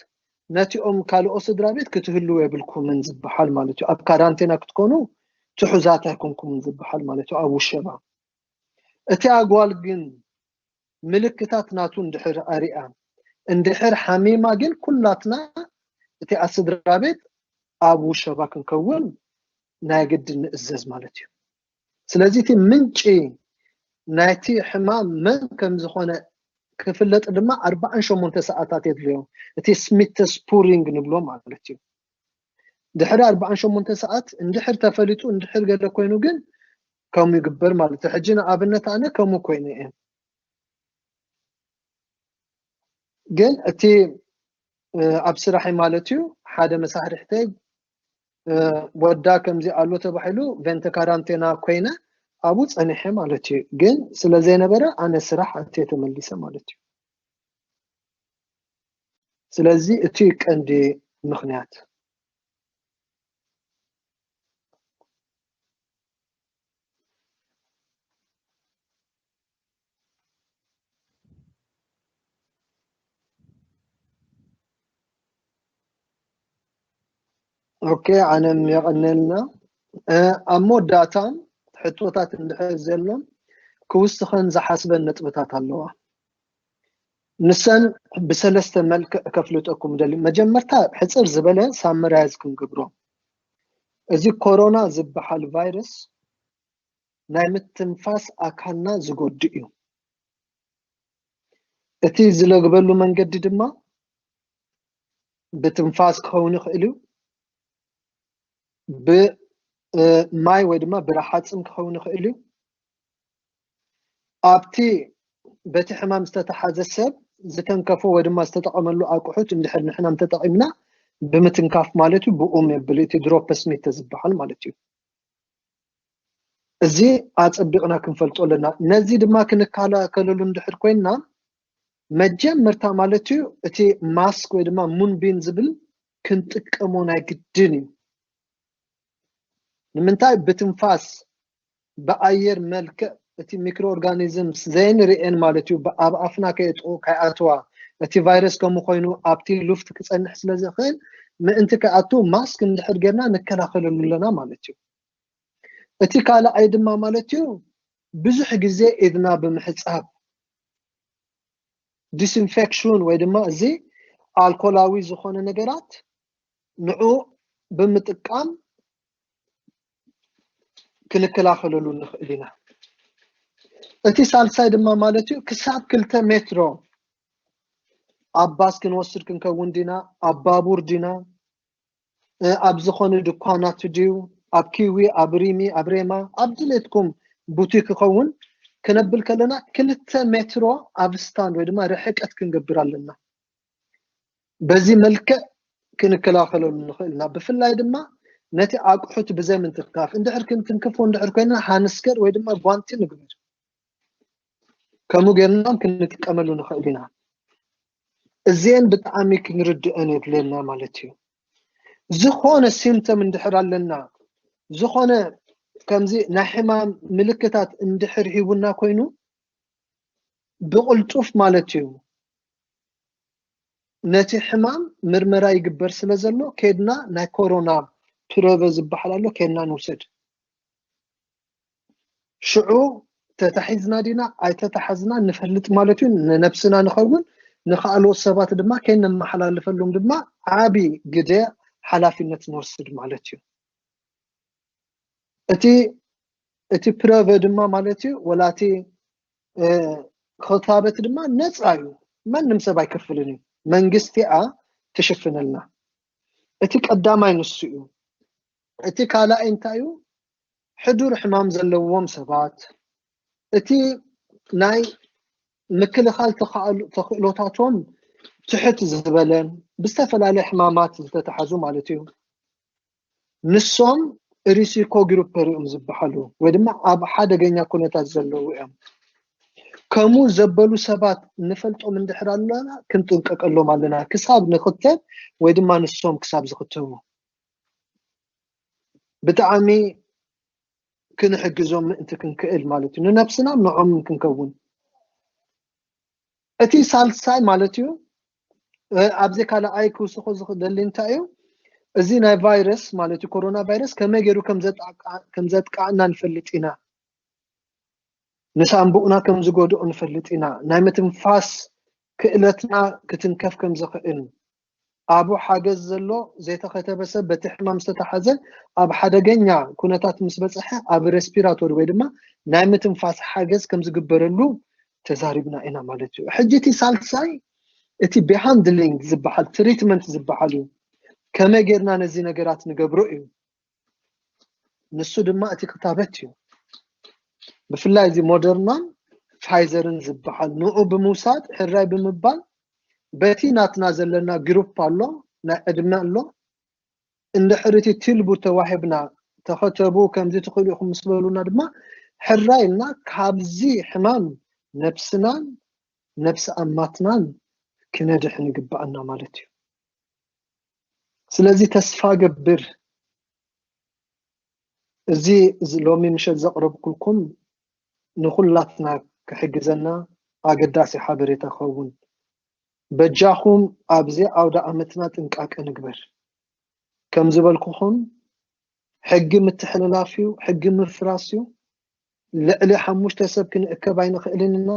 ነቲኦም ካልኦ ስድራ ቤት ክትህልው የብልኩምን ዝበሃል ማለት እዩ ኣብ ካራንቴና ክትኮኑ ትሑዛት ኣይኮንኩምን ዝበሃል ማለት እዩ ኣብ ውሸባ እቲ ኣጓል ግን ምልክታት ናቱ እንድሕር ኣሪኣ እንድሕር ሓሚማ ግን ኩላትና እቲኣ ስድራቤት ኣብ ውሸባ ክንከውን ናይ ግድን ንእዘዝ ማለት እዩ። ስለዚ እቲ ምንጪ ናይቲ ሕማም መን ከም ዝኾነ ክፍለጥ ድማ ኣርብዓን ሸሞንተ ሰዓታት የድልዮ። እቲ ስሚተስፑሪንግ ንብሎ ማለት እዩ። ድሕሪ ኣርብዓን ሸሞንተ ሰዓት እንድሕር ተፈሊጡ እንድሕር ገለ ኮይኑ ግን ከምኡ ይግበር ማለት እዩ ሕጂ ንኣብነት ኣነ ከምኡ ኮይኑ እየ ግን እቲ ኣብ ስራሕይ ማለት እዩ ሓደ መሳርሕተይ ወዳ ከምዚ ኣሎ ተባሂሉ ቨንተ ካራንቴና ኮይነ ኣብኡ ፀኒሐ ማለት እዩ ግን ስለ ዘይነበረ ኣነ ስራሕ ኣትየ ተመሊሰ ማለት እዩ ስለዚ እቲ ቀንዲ ምክንያት ኦኬ ዓለም የቐነልና ኣብ መወዳእታ ሕቶታት እንድሕር ዘሎ ክውስኸን ዝሓስበን ነጥብታት ኣለዋ ንሰን ብሰለስተ መልክዕ ከፍልጠኩም ደሊ መጀመርታ ሕፅር ዝበለ ሳምራያዝ ክንገብሮ እዚ ኮሮና ዝበሃል ቫይረስ ናይ ምትንፋስ ኣካልና ዝጎድእ እዩ። እቲ ዝለግበሉ መንገዲ ድማ ብትንፋስ ክኸውን ይኽእል እዩ፣ ብማይ ወይ ድማ ብረሓፅም ክኸውን ይኽእል እዩ፣ ኣብቲ በቲ ሕማም ዝተታሓዘ ሰብ ዝተንከፎ ወይ ድማ ዝተጠቐመሉ ኣቁሑት እንድሕር ንሕና እንተጠቒምና ብምትንካፍ ማለት እዩ ብኡም የብል እቲ ድሮፐስሚተ ዝበሃል ማለት እዩ። እዚ ኣጸቢቕና ክንፈልጦ ኣለና ነዚ ድማ ክንከላከለሉ እንድሕር ኮይና መጀመርታ ማለት እዩ እቲ ማስክ ወይ ድማ ሙንቢን ዝብል ክንጥቀሞ ናይ ግድን እዩ ንምንታይ ብትንፋስ ብኣየር መልክዕ እቲ ሚክሮ ኦርጋኒዝምስ ዘይንርእየን ማለት እዩ ኣብ ኣፍና ከየጥቅኡ ከይኣትዋ እቲ ቫይረስ ከምኡ ኮይኑ ኣብቲ ሉፍት ክጸንሕ ስለ ዝኽእል ምእንቲ ከይኣቱ ማስክ እንድሕር ጌርና ንከላኸለሉ ኣለና ማለት እዩ እቲ ካልኣይ ድማ ማለት እዩ ብዙሕ ግዜ ኢድና ብምሕጻብ ዲስኢንፌክሽን ወይ ድማ እዚ ኣልኮላዊ ዝኾነ ነገራት ንዑኡ ብምጥቃም ክንከላኸለሉ ንኽእል ኢና። እቲ ሳልሳይ ድማ ማለት እዩ ክሳብ ክልተ ሜትሮ ኣብ ባስ ክንወስድ ክንከውን ዲና ኣብ ባቡር ዲና ኣብ ዝኾነ ድኳናት ድዩ ኣብ ኪዊ ኣብ ሪሚ ኣብ ሬማ ኣብ ድሌትኩም ቡቲክ ክኸውን ክነብል ከለና ክልተ ሜትሮ ኣብ ስታንድ ወይ ድማ ርሕቀት ክንገብር ኣለና። በዚ መልክዕ ክንከላኸለሉ ንኽእል ኢና። ብፍላይ ድማ ነቲ ኣቑሑት ብዘይ ምንክፍካፍ እንድሕር ክንክንክፎ እንድሕር ኮይና ሃንስከር ወይ ድማ ጓንቲ ንግበር። ከምኡ ጌርና ክንጥቀመሉ ንኽእል ኢና። እዚኤን ብጣዕሚ ክንርድኦን የድልየና ማለት እዩ። ዝኾነ ሲምተም እንድሕር ኣለና ዝኾነ ከምዚ ናይ ሕማም ምልክታት እንድሕር ሂቡና ኮይኑ ብቕልጡፍ ማለት እዩ ነቲ ሕማም ምርመራ ይግበር ስለ ዘሎ ኬድና ናይ ኮሮና ፕረቨ ዝበሃል ኣሎ ኬድና ንውሰድ ሽዑ ተታሒዝና ዲና ኣይተታሓዝና ንፈልጥ ማለት እዩ ንነብስና ንኸውን ንካልኦት ሰባት ድማ ከይነመሓላልፈሉም ድማ ዓቢ ግደ ሓላፊነት ንወስድ ማለት እዩ እቲ እቲ ፕረቨ ድማ ማለት እዩ ወላቲ ክታበት ድማ ነፃ እዩ ማንም ሰብ ኣይከፍልን እዩ መንግስቲ እያ ትሽፍነልና እቲ ቀዳማይ ንሱ እዩ እቲ ካልኣይ እንታይ እዩ ሕዱር ሕማም ዘለዎም ሰባት እቲ ናይ ምክልኻል ተኽእሎታቶም ትሕት ዝበለን ብዝተፈላለየ ሕማማት ዝተተሓዙ ማለት እዩ ንሶም ሪሲኮ ግሩፐር እዮም ዝበሃሉ ወይ ድማ ኣብ ሓደገኛ ኩነታት ዘለዉ እዮም ከምኡ ዘበሉ ሰባት ንፈልጦም እንድሕር ኣለና ክንጥንቀቀሎም ኣለና ክሳብ ንክተብ ወይ ድማ ንሶም ክሳብ ዝክተቡ ብጣዕሚ ክንሕግዞም ምእንቲ ክንክእል ማለት እዩ ንነብስና ንዖምን ክንከውን እቲ ሳልሳይ ማለት እዩ ኣብዚ ካልኣይ ክውስኾ ዝደሊ እንታይ እዩ እዚ ናይ ቫይረስ ማለት እዩ ኮሮና ቫይረስ ከመይ ገይሩ ከም ዘጥቃዕና ንፈልጥ ኢና ንሳንቡእና ከም ዝጎድኦ ንፈልጥ ኢና ናይ ምትንፋስ ክእለትና ክትንከፍ ከም ዝኽእል ኣቡ ሓገዝ ዘሎ ዘይተኸተበ ሰብ በቲ ሕማም ዝተታሕዘ ኣብ ሓደገኛ ኩነታት ምስ በጸሐ ኣብ ረስፒራቶሪ ወይ ድማ ናይ ምትንፋስ ሓገዝ ከም ዝግበረሉ ተዛሪብና ኢና ማለት እዩ። ሕጂ እቲ ሳልሳይ እቲ ቤሃንድሊንግ ዝበሃል ትሪትመንት ዝበሃል እዩ። ከመይ ጌርና ነዚ ነገራት ንገብሮ እዩ። ንሱ ድማ እቲ ክታበት እዩ ብፍላይ እዚ ሞደርናን ፋይዘርን ዝበሃል ንኡ ብምውሳድ ሕራይ ብምባል በቲ ናትና ዘለና ግሩፕ ኣሎ ናይ ዕድመ ኣሎ እንድሕር እቲ ትልቡ ተዋሂብና ተኸተቡ ከምዚ ትኽእሉ ኢኹም ምስ በሉና ድማ ሕራይ እና ካብዚ ሕማም ነብስናን ነብሲ ኣማትናን ክነድሕን ይግባኣና ማለት እዩ ስለዚ ተስፋ ገብር እዚ ሎሚ ምሸት ዘቕረብኩልኩም ንኹላትና ክሕግዘና ኣገዳሲ ሓበሬታ ክኸውን በጃኹም ኣብዚ ኣውደ ኣመትና ጥንቃቄ ንግበር ከም ዝበልኩኹም ሕጊ ምትሕልላፍ እዩ ሕጊ ምፍራስ እዩ ልዕሊ ሓሙሽተ ሰብ ክንእከብ ኣይንኽእልን ኢና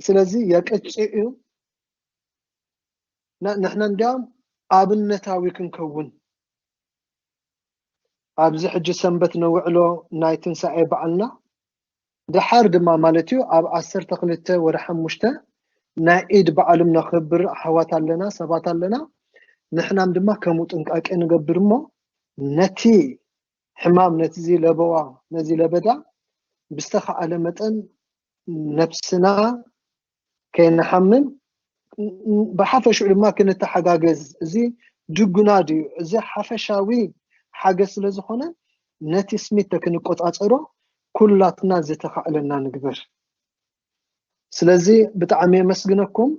ስለዚ የቅጭዕ እዩ ንሕና እንዲያውም ኣብነታዊ ክንከውን ኣብዚ ሕጂ ሰንበት ነውዕሎ ናይ ትንሳኤ በዓልና ድሓር ድማ ማለት እዩ ኣብ ዓሰርተ ክልተ ወደ ሓሙሽተ ናይ ኢድ በዓልም ነኽብር ኣሕዋት ኣለና ሰባት ኣለና ንሕናም ድማ ከምኡ ጥንቃቄ ንገብር እሞ ነቲ ሕማም ነቲዚ ለበዋ ነዚ ለበዳ ብዝተኻእለ መጠን ነብስና ከይንሓምም ብሓፈሽኡ ድማ ክንተሓጋገዝ እዚ ድጉና ድዩ እዚ ሓፈሻዊ ሓገዝ ስለ ዝኾነ ነቲ ስሚት ክንቆፃፀሮ ኩላትና ዝተኻእለና ንግበር ስለዚ ብጣዕሚ የመስግነኩም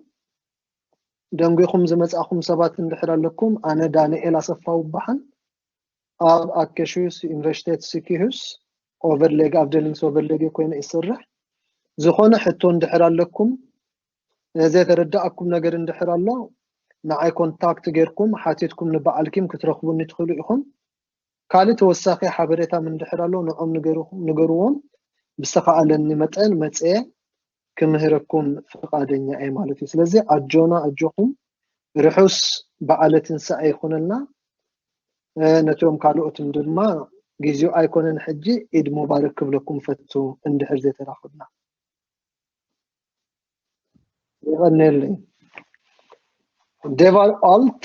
ደንጒኹም ዝመፃእኹም ሰባት እንድሕር ኣለኩም ኣነ ዳንኤል ኣሰፋው በሃል ኣብ ኣከሽዩስ ዩኒቨርሲቴት ስኪሁስ ኦቨርሌግ ኣብደሊንስ ኦቨርሌግ ኮይነ ይስርሕ ዝኾነ ሕቶ እንድሕር ኣለኩም ዘተረዳእኩም ነገር እንድሕር ኣሎ ንዓይ ኮንታክት ጌርኩም ሓቲትኩም ንበዓልኪም ክትረኽቡኒ ትኽእሉ ኢኹም ካልእ ተወሳኺ ሓበሬታ ምንድሕር ኣሎ ንዖም ንገርዎም ብዝተኻኣለኒ መጠን መፅየ ክምህረኩም ፍቃደኛ እየ ማለት እዩ ስለዚ ኣጆና ኣጆኹም ርሑስ በዓለ ትንሳኤ ይኹነልና ነቶም ካልኦትም ድማ ግዜኡ ኣይኮነን ሕጂ ኢድ ሙባረክ ክብለኩም ፈቱ እንድሕር ዘይተራኽብና ይቐነየለይ ዴቫል ኣልት